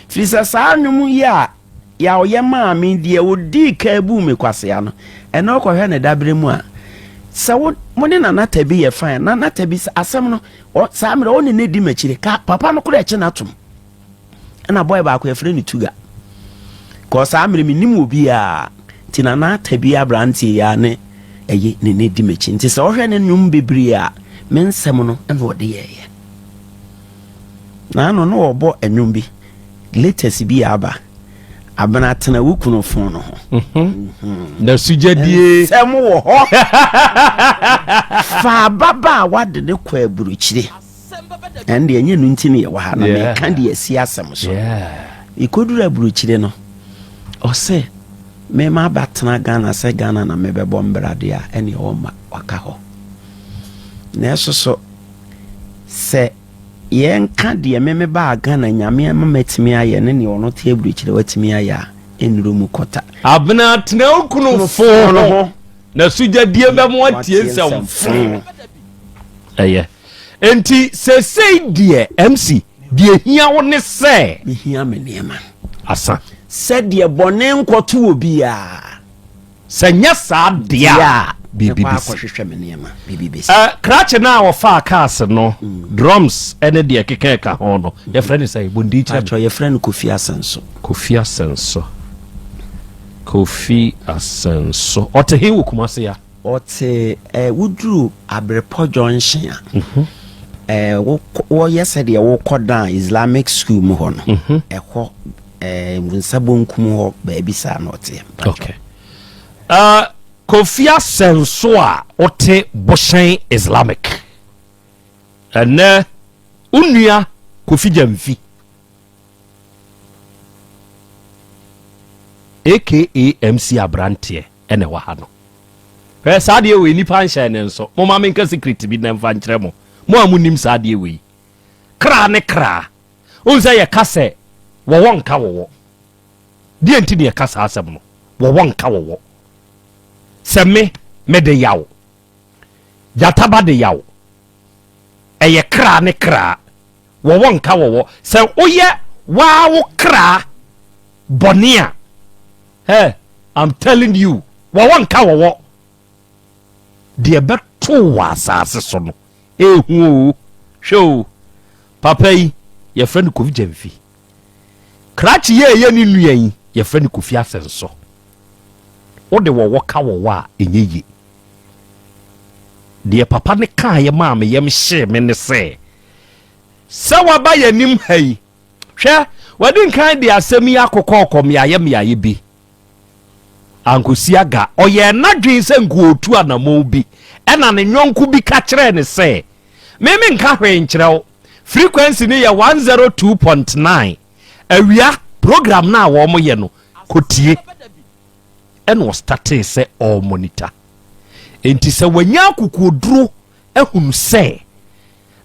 Firi sɛ saa nnwom yi a Yaw yɛ maa me, deɛ ɔdii kan buu me kwasea no, ɛnna ɔkɔhwɛ no dabere mu a, sɛ wo, mo ne Nana Tabi yɛ fine a, Nana Tabi, sɛ asɛm no, ɔ, saa mmerɛ, ɔne no di m'akyire, ka papa no koraa kye no atom. Ɛnna boy baako, yɛfrɛ no Tuga, kɔɔ saa mmerɛ, mennim obiara, nti Nana Tabi aberanteɛ yi ara ne ɛyɛ, ne ne di m'akyi, nti sɛ wohwɛ ne nnwom bebree a, me nsɛm no na ɔde yɛeɛ. Naano na ɔbɔ ɛnwom bi latest bi a aba abena tena wo kunu fon no ho. Mhm. na sugyadie nsɛm wɔ hɔ fa ababaawa de ne kɔ aburukyire ɛn deɛ ɛnyɛ no nti ne yɛwɔ ha na meka deɛ asi asɛm so ɛkɔduru aburukyire no ɔsɛ mema abatena ghana sɛ ghana na mebɛbɔ mbradeɛ a ɛne ɔma waka hɔ na ɛso so Sɛ yɛnka deɛ me mebaa Ghana Nyame ama matumi ayɛ ne neɛ ɔno te abirikyire watumi ayɛ a, ɛnnuru mu kɔta. Abena tena wo kunu foo no ho na sugyadie bɛ mo atie nsɛm foo. Ɛyɛ. Enti sesei deɛ MC deɛ ɛhia wo ne sɛ. Me hia me nneɛma. Asa. Sɛdeɛ bɔne nkɔto obiara. Sɛ nyɛ saa dea a, biribi besi. Mɛkɔ akɔhwehwɛ me nneɛma, biribi besi. Ɛ, krakye no a wɔfaa cars no, drums ne deɛ ɛkeka ɛka ho no, yɛfrɛ no sɛn? Bɔ din kyerɛ me. Paatwɔ, yɛfrɛ no Kofi Asɛnso. Kofi Asɛnso. Kofi Asɛnso. Ɔte he wɔ Kumase ya? Ɔte, ɛ, woduru Abrepɔ Junction a, ɛ, wokɔ, wɔyɛ sɛdeɛ wokɔ dan Islamic school mu hɔ no, ɛhɔ. Ɛɛ nsa bonkum hɔ baabi saa na ɔteɛ. Okay. Uh, Kofi Asɛnso a ɔte Bohyɛn Islamic. Ɛnɛ onua Kofi Gyamfi aka MC abranteɛ ɛna ɛwɔ ha no. Hwɛ saa adeɛ wei nipa nhyɛ ne nso. Mo ma menka secret bi na mfa nkyerɛ mo. Mo a mo nim saa adeɛ wei. Kra ne kra Wohu sɛ yɛka sɛ wɔwɔ nka wɔwɔ. Deɛ nti na yɛka saa asɛm no, wɔwɔ nka wɔwɔ. Sɛ me, mede yaw. Gyata ba de yaw. Ɛyɛ kra ne kra. Wɔwɔ nka wɔwɔ. Sɛ woyɛ waa wo kra bɔne a, eh, I'm telling you, wɔwɔ nka wɔwɔ. Deɛ ɛbɛto wo wɔ asase so no, ɛhu o. Hwɛ o, papa yi, yɛfrɛ no Kofi Gyamfi. Krakye yi a ɛyɛ ne nua yi, yɛfrɛ no Kofi Asɛnsɔ. Wode wɔwɔ ka wɔwɔ a, ɛnyɛ yie. Deɛ papa no kaeɛ maa me yam hyee me ne sɛ, sɛ waba yɛn anim ha yi, hwɛ, wadi nkan de asɛm yi akokɔ ɔkɔ mmeaeɛ mmeaeɛ bi. Ankosi aga, ɔyɛɛ n'adwene sɛ nka ɔretu anammɔn bi, ɛnna ne yɔnko bi ka kyerɛɛ no sɛ, Me menka hwee nkyerɛ wo. Frequency no yɛ one zero two point nine. Awia, program no a wɔyɛ no, kɔtie. Ɛnna ɔstartee sɛ ɔremonita. Enti sɛ wanya akokoɔduro ahunu sɛ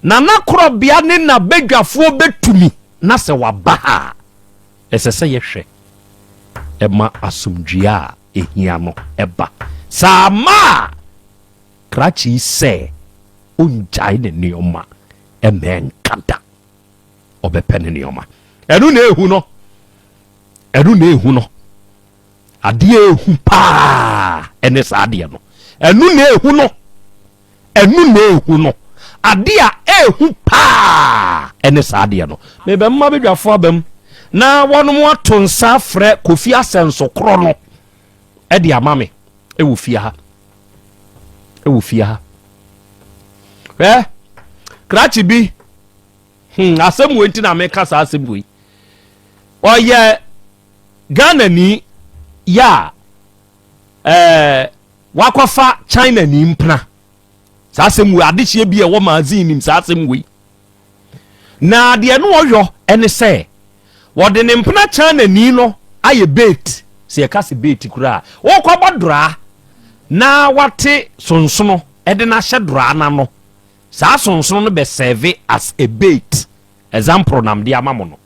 Nana Korɔbea ne n'abadwafoɔ bɛtumi na sɛ wɔaba ha a, Ɛsɛ sɛ yɛhwɛ ma asomdwoe a ehia no ba. Sɛ amma a, krakye yi sɛ ongyae ne nneɛma mma ɛnka da. Ɔbɛpɛ ne nneɛma. Ɛno na ehu no. Ɛno na ehu no. Adeɛ a ɛhu paa ne saa adeɛ no. Ɛno na ɛhu no. Ɛno na ɛhu no. Adeɛ a ɛhu paa ne saa adeɛ no. Mebɛma badwafoɔ aba mu na wɔnom ato nsa frɛ Kofi Asɛnso korɔ no de ama me wɔ fie ha. Wɔ fie ha. Hwɛ, krakye bi, hmm, asɛm wei nti na meka saa asɛm wei. Ɔyɛ Ghanani yɛ a, ɛɛ wakɔfa Chinani mpena. Saa asɛm wei, adehyeɛ bi a ɛwɔ magazine nim saa asɛm wei. Na deɛ no ɔyɔ ɛne sɛ, wɔde ne mpena Chinani no ayɛ bait, sɛ yɛka sɛ bait koraa, wɔkɔ abɔ doraa na wate sonsono ɛde no ahyɛ doraa no ano. Saa sonsono no bɛ serve as a bait. Example nam de ama mo no.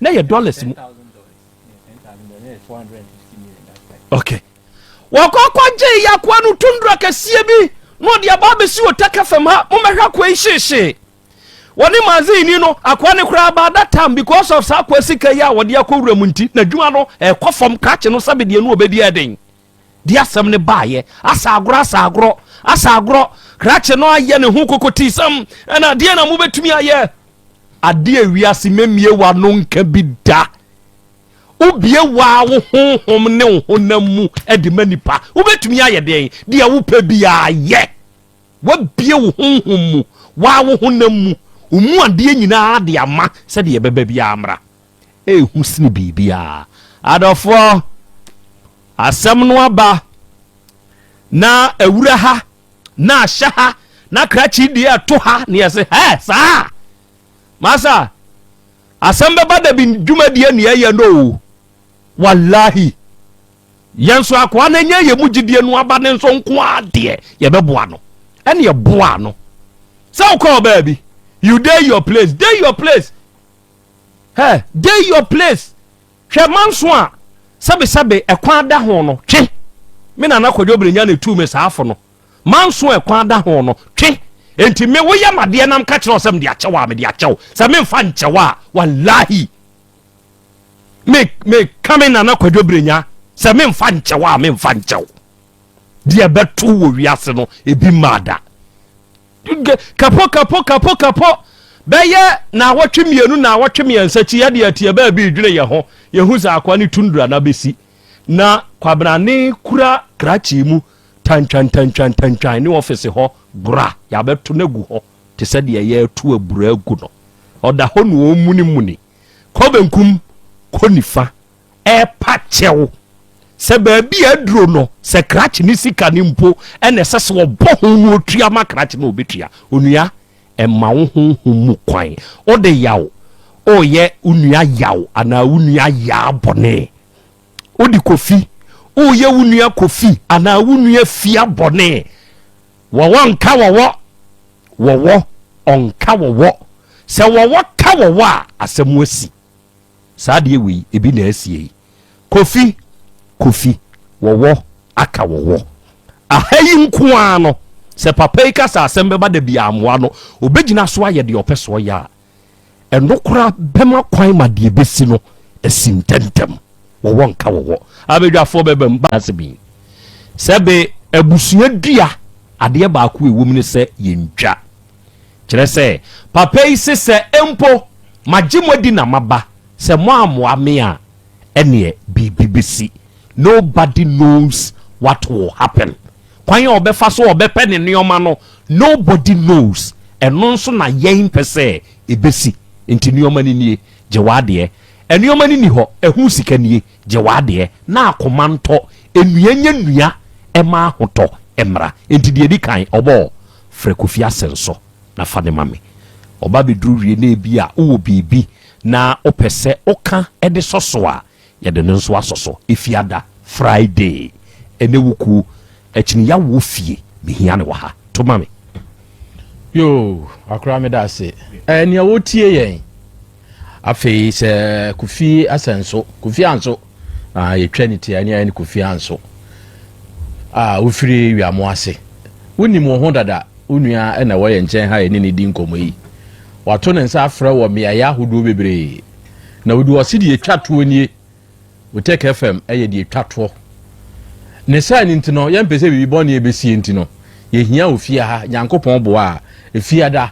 na yɛ dollars mu okay wɔkɔ akɔgye yakoa no tundra kɛseɛ bi na ɔde aba abɛsi wɔ taka fam ha momɛhwɛ akoa yi hyeehyee wɔne mazini no akoa ne koraa ba that time because of saa akoa sika yi a wɔde akɔ wura mu nti n'adwuma no ɛkɔ fam krakye no sɛbedeɛ no ɔbɛdi ɛden de asɛm no baeɛ. Asa agorɔ, asa agorɔ, asa agorɔ. Krakye no ayɛ ne ho kokotiisɛm. Ɛna adeɛ na mobɛtumi ayɛ. Adeɛ wiase mɛmie w'ano nka bi da. Wobie waa wo honhom ne wo honam mu de ma nipa. Wobɛtumi ayɛ deɛn? Deɛ wopɛ biara yɛ. Wabie wo honhom mu, waa wo honam mu, wo mu adeɛ nyinaa de ama sɛdeɛ ɛbɛba biara mmra. ɛyɛ hu sene biribiara. Adɔfoɔ, asɛm no aba na awura ha, na ahyɛ ha, na krakye deɛ ɛto ha, na yɛse hɛ saa. Masa, asɛm bɛba da bi dwumadie ne ɛyɛ no o. Wallahi. Yɛn nso akoa no nyɛ yɛ mu gyidie no aba ne nso nko adeɛ yɛbɛboa no. Ɛne ɛboa no. Sɛ wokɔ ɔbaa bi, you dey your place, dey your place. Hɛɛ, dey your place, hwɛ manso a sɛbesɛbe ɛkwan da ho no, twe! Me Nana Kwadwo Brenya na etuu me saa fo no, manso a ɛkwan da ho no, twe! Enti me woyɛ m'adeɛ na meka kyerɛ wo sɛ mede akyɛ wo a, mede akyɛ wo, sɛ memfa nkyɛ wo a, walahi, me, meka me Nana Kwadwo Brenya, sɛ memfa nkyɛ wo a, memfa nkyɛ wo. Deɛ ɛbɛto wɔ wiase no, ebi mmaa da. Kapo kapo kapo kapo Bɛyɛ naawɔtwe mmienu naawɔtwe mmiɛnsa akyi yɛde ateɛ baabi redwene yɛn ho yɛn ho sɛ akoa ne tundra no abɛsi na Kwabena ne kura krakye mu tantwan tantwan tantwan ne ɔfese hɔ gora yɛabɛto no agu hɔ te sɛ deɛ yɛreto abura agu no ɔda hɔ na ɔremunimuni kɔ benkum kɔ nifa ɛrepa kyɛw sɛ baabi a aduro no sɛ krakye ne sika no mpo ɛna ɛsɛ sɛ ɔbɔ ho no ɔtua ma krakye no ɔbɛtua onua ɛma wo honhom mu kwan wode yaw ɔyɛ wo nua yaw anaa wo nua yaa bɔne wode kofi woyɛ wo nua kofi anaa wo nua fia bɔne wɔwɔ nka wɔwɔ wɔwɔ ɔnka wɔwɔ sɛ wɔwɔ ka wɔwɔ a asɛm asi Saa adeɛ wei ebi na asie yi. Kofi Kofi wɔwɔ aka wɔwɔ aha yi nko ara no sɛ papa yi ka sɛ asɛm bɛba da biaa mmoa no ɔbɛgyina so ayɛ deɛ ɔpɛ sɛ ɔyɛ a ɛno koraa bɛma kwan ma deɛ ɛbɛsi no asi ntɛntɛm wɔwɔ nka wɔwɔ abadwafoɔ bɛba mu baase bi sɛ be abusua dua adeɛ baako ɛwɔ mu ne sɛ yɛntwa Kyerɛ sɛ, papa yi se sɛ mpo magye mo adi na maba, sɛ moammoa me a, ɛneɛ biribi bɛsi. Nobody knows what will happen. Kwan a ɔbɛfa so a ɔbɛpɛ ne nnoɔma no, nobody knows. Ɛno nso na yɛn pɛ sɛ ɛbɛsi. Nti nnoɔma no nie, gye w'adeɛ. Nnoɔma no nni hɔ, ɛho sika nie, gye w'adeɛ, na akoma ntɔ, nnua nyɛ nnua mma ahotɔ mmra. Nti deɛ ɛdi kan, ɔbɔɔ. Frɛ Kofi Ase nso na fa no ma me. Ɔba bɛduru wie na ebia wowɔ biribi na wopɛ sɛ woka de sɔ so a, yɛde no nso asɔ so. Efiada, Friday, ne wo kuo. Akyiniya wɔ wo fie? Mehia no wɔ ha. To ma me. Yoo, Akora meda ase. Ɛɛ, nea wotie yɛn. Afei sɛ Kofi asɛ nso, Kofi anso, na yɛtwa ne ti a ne ayɛ ne Kofi anso a wofiri wiamo ase. Wonim wo ho dada, wo nua na ɛwɔ yɛn nkyɛn ha yɛne ne di nkɔmmɔ yi. Wato ne nsa afrɛ wɔ mmeaeɛ ahodoɔ bebree. Na ɔde ɔse deɛ ɛtwa toɔ nie. Wuteke FM yɛ deɛ ɛtwa toɔ. Ne saa no nti no, yɛmpɛ sɛ biribi bɔne ɛbɛsie nti no, yɛhia wo fie ha. Nyankopɔn boa a, Efiada,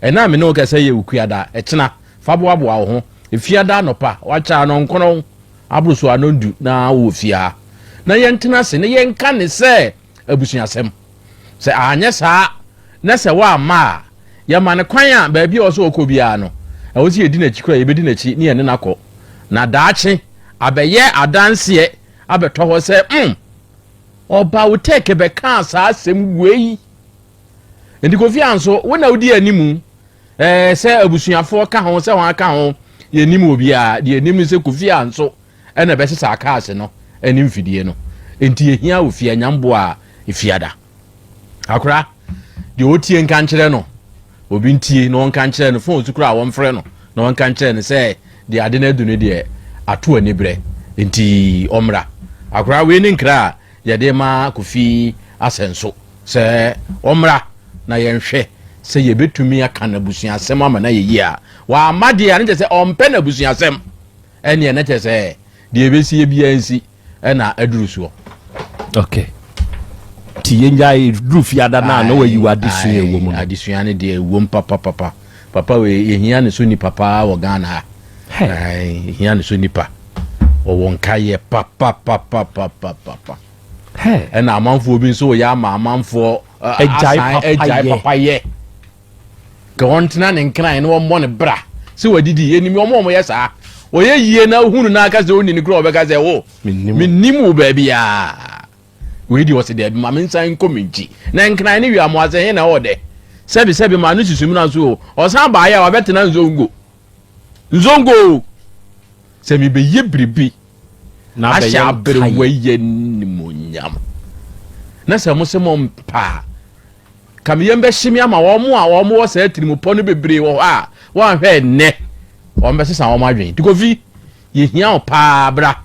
ɛna a me ne wo kasa yɛ Ukuada, ɛkyena, fa boaboa wo ho. Efiada anɔpa, wakyɛ anɔnkron aboro so anɔndu na wowɔ fie ha. Na yɛntena ase na yɛnka ne sɛ. abusuasɛm. Sɛ anyɛ saa na sɛ wamma a, yɛma no kwan a baabi a ɔwɔ sɛ ɔkɔ biara no, ɛwɔ sɛ yɛdi n'akyi kɔ a, yɛbɛdi n'akyi ne yɛne no akɔ. Na daakye, abɛyɛ adanseɛ abɛtɔ hɔ sɛ, mm, ɔba wo tɛɛke bɛkaa saa asɛm wei. Nti Kofi Ann so, wo na wodi animu eh, sɛ abusuafoɔ ka ho, sɛ wɔn aka ho, yɛnim obiara. Deɛ ɛnim ne sɛ Kofi Ann so, na ɛbɛsesa akaase no ne mfidie no. Enti yɛhia ofie anyamboa a efiada. Akora, deɛ ɔtie nka nkyerɛ no, obi ntie na ɔnka nkyerɛ no, fon so koraa wɔmfrɛ no na ɔnka nkyerɛ no sɛ deɛ ade no adu no deɛ ato aniberɛ, enti ɔmmra. Akora, wei ne nkra a yɛde ma Kofi Asɛnso sɛ ɔmmra na yɛnhwɛ sɛ yɛbɛtumi aka n'abusuasɛm ama no ayɛ yie a. Wamma deɛ a, na kyerɛ sɛ ɔmpɛ n'abusuasɛm. Ɛneɛ na kyerɛ sɛ deɛ ɛbɛsie biara nsi ɛna aduru soɔ. Ok. Ti yɛngyae duru fiada no a na wayi wɔ adesua ɛwɔ mu no. Adesua no deɛ ɛwɔ mu papapapa. Papa wei yɛhia ne so nipa paa wɔ Ghana ha. Yɛhia ne so nipa. Wɔwɔ nkaeɛ papapapapapa. Ɛna amanfoɔ bi nso yɛ ama amanfoɔ asan agyae papayɛ. ka wɔn tena ne nkran na wɔmmɔ ne bra sɛ wadidi ɛnim wɔn wɔn yɛ saa ɔyɛ yie na ohunu na aka sɛ ɔnni ne kura ɔbɛka sɛ o mennim wo baabi a wei deɛ ɔsɛ daabi ma me nsan nkɔ me nkyi na nkran ne wia mo asɛ he na ɔdɛ sɛbi sɛbi ma no susum na nso o ɔsan baayɛ a wabɛtena nzongo nzongo sɛ mebɛyɛ biribi ahyɛ aberewa yɛ nimonyam na sɛ mo sɛ mo mpaa Ka me yam bɛhye me ama wɔn a wɔwɔ saa atirimpɔ no bebree wɔ hɔ a wɔanhwɛ nnɛ wɔbɛsesa wɔn adwene. Nti Kofi, yɛhia wo paa bra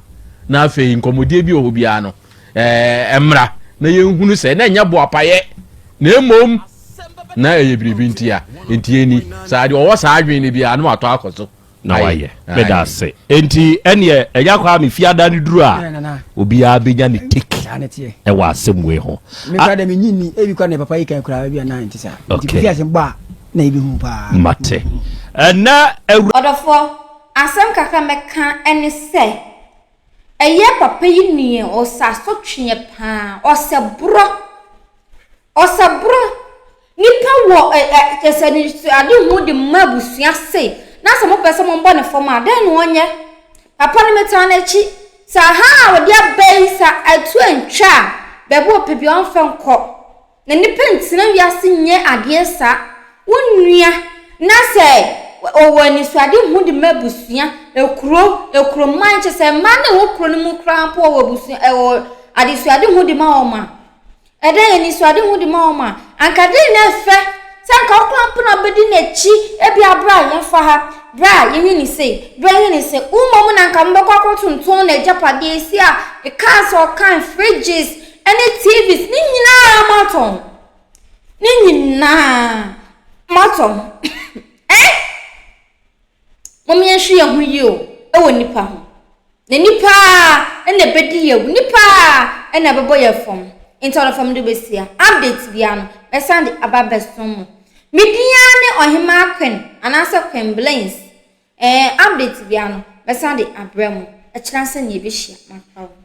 na afei nkɔmmɔdie bi wɔ hɔ biara no eh, mmra na yɛnhunu sɛ na ɛnyɛ boapayɛ na mmom na ɛyɛ biribi ntia. Nti ɛni saa deɛ ɔwɔ saa adwene no biara no watɔ akɔ so. na wayɛ. Meda ase. Enti ɛneɛ ɛnya kɔ a me fiada no duru a obiara bɛnya ne take ɛwɔ asɛm wei ho. Mekura dɛ menyi ni ebi kura ne papa yi kan kura ebi anan ti saa. Nti kofi asɛm bɔ a na ebi hu paa. Mate. Ɛnɛ awura. Ɔdɔfoɔ, asɛm kakra mɛka ɛne sɛ ɛyɛ papa yi neɛ ɔsɛ asotweɛ paa, ɔsɛ borɔ, ɔsɛ borɔ. Nipa wɔ nsɛnnesoade hu de ma abusua se, na sɛ mopɛ sɛ mobɔ no fam a, dɛn na ɔnyɛ? Papa no metaa n'akyi. Sɛ ahaa a ɔde aba yi, sɛ atu antwa a, baabi a ɔpɛ biara ɔmfa nkɔ. Na nnipa ntena wiase nyɛ adeɛ saa. Wo nua, na sɛ ɔwɔ anisoade hu de ma abusua, ekuro, ekuroman, kyerɛ sɛ mmaa no a ɛwɔ kuro no mu koraa mpo wɔwɔ abusua, wɔwɔ adesoade hu de ma wɔn a, Ɛdan anisoadehu de ma wɔn a, anka dɛn na ɛfɛ sɛ anka wo kora mpo na wobɛdi n'akyi, ebia berɛ a yɛmfa ha, berɛ a yɛnyɛ no sei, berɛ a yɛnyɛ no sei. Wo mmom na anka mobɛkɔ akɔtonton n'agyapadeɛ, ɛsi a cars a ɔkan, fridges ne TVs, ne nyinaa moatɔn. Ne nyinaa moatɔn. Ɛ? Mom yɛnhwe yɛn ho yie o ɛwɔ nipa ho na nipa ara na ɛbɛdi yɛn awu nipa ara na ɛbɛbɔ yɛn fam nti ɔno fam de bɛsia update biara no mɛsan de aba bɛsom mo me din ara ne ɔhemaa Queen anaasɛ Queen Blains ɛɛ update biara no mɛsan de abrɛ mo ɛkyerɛ sɛ ne yɛbɛhyia maka o.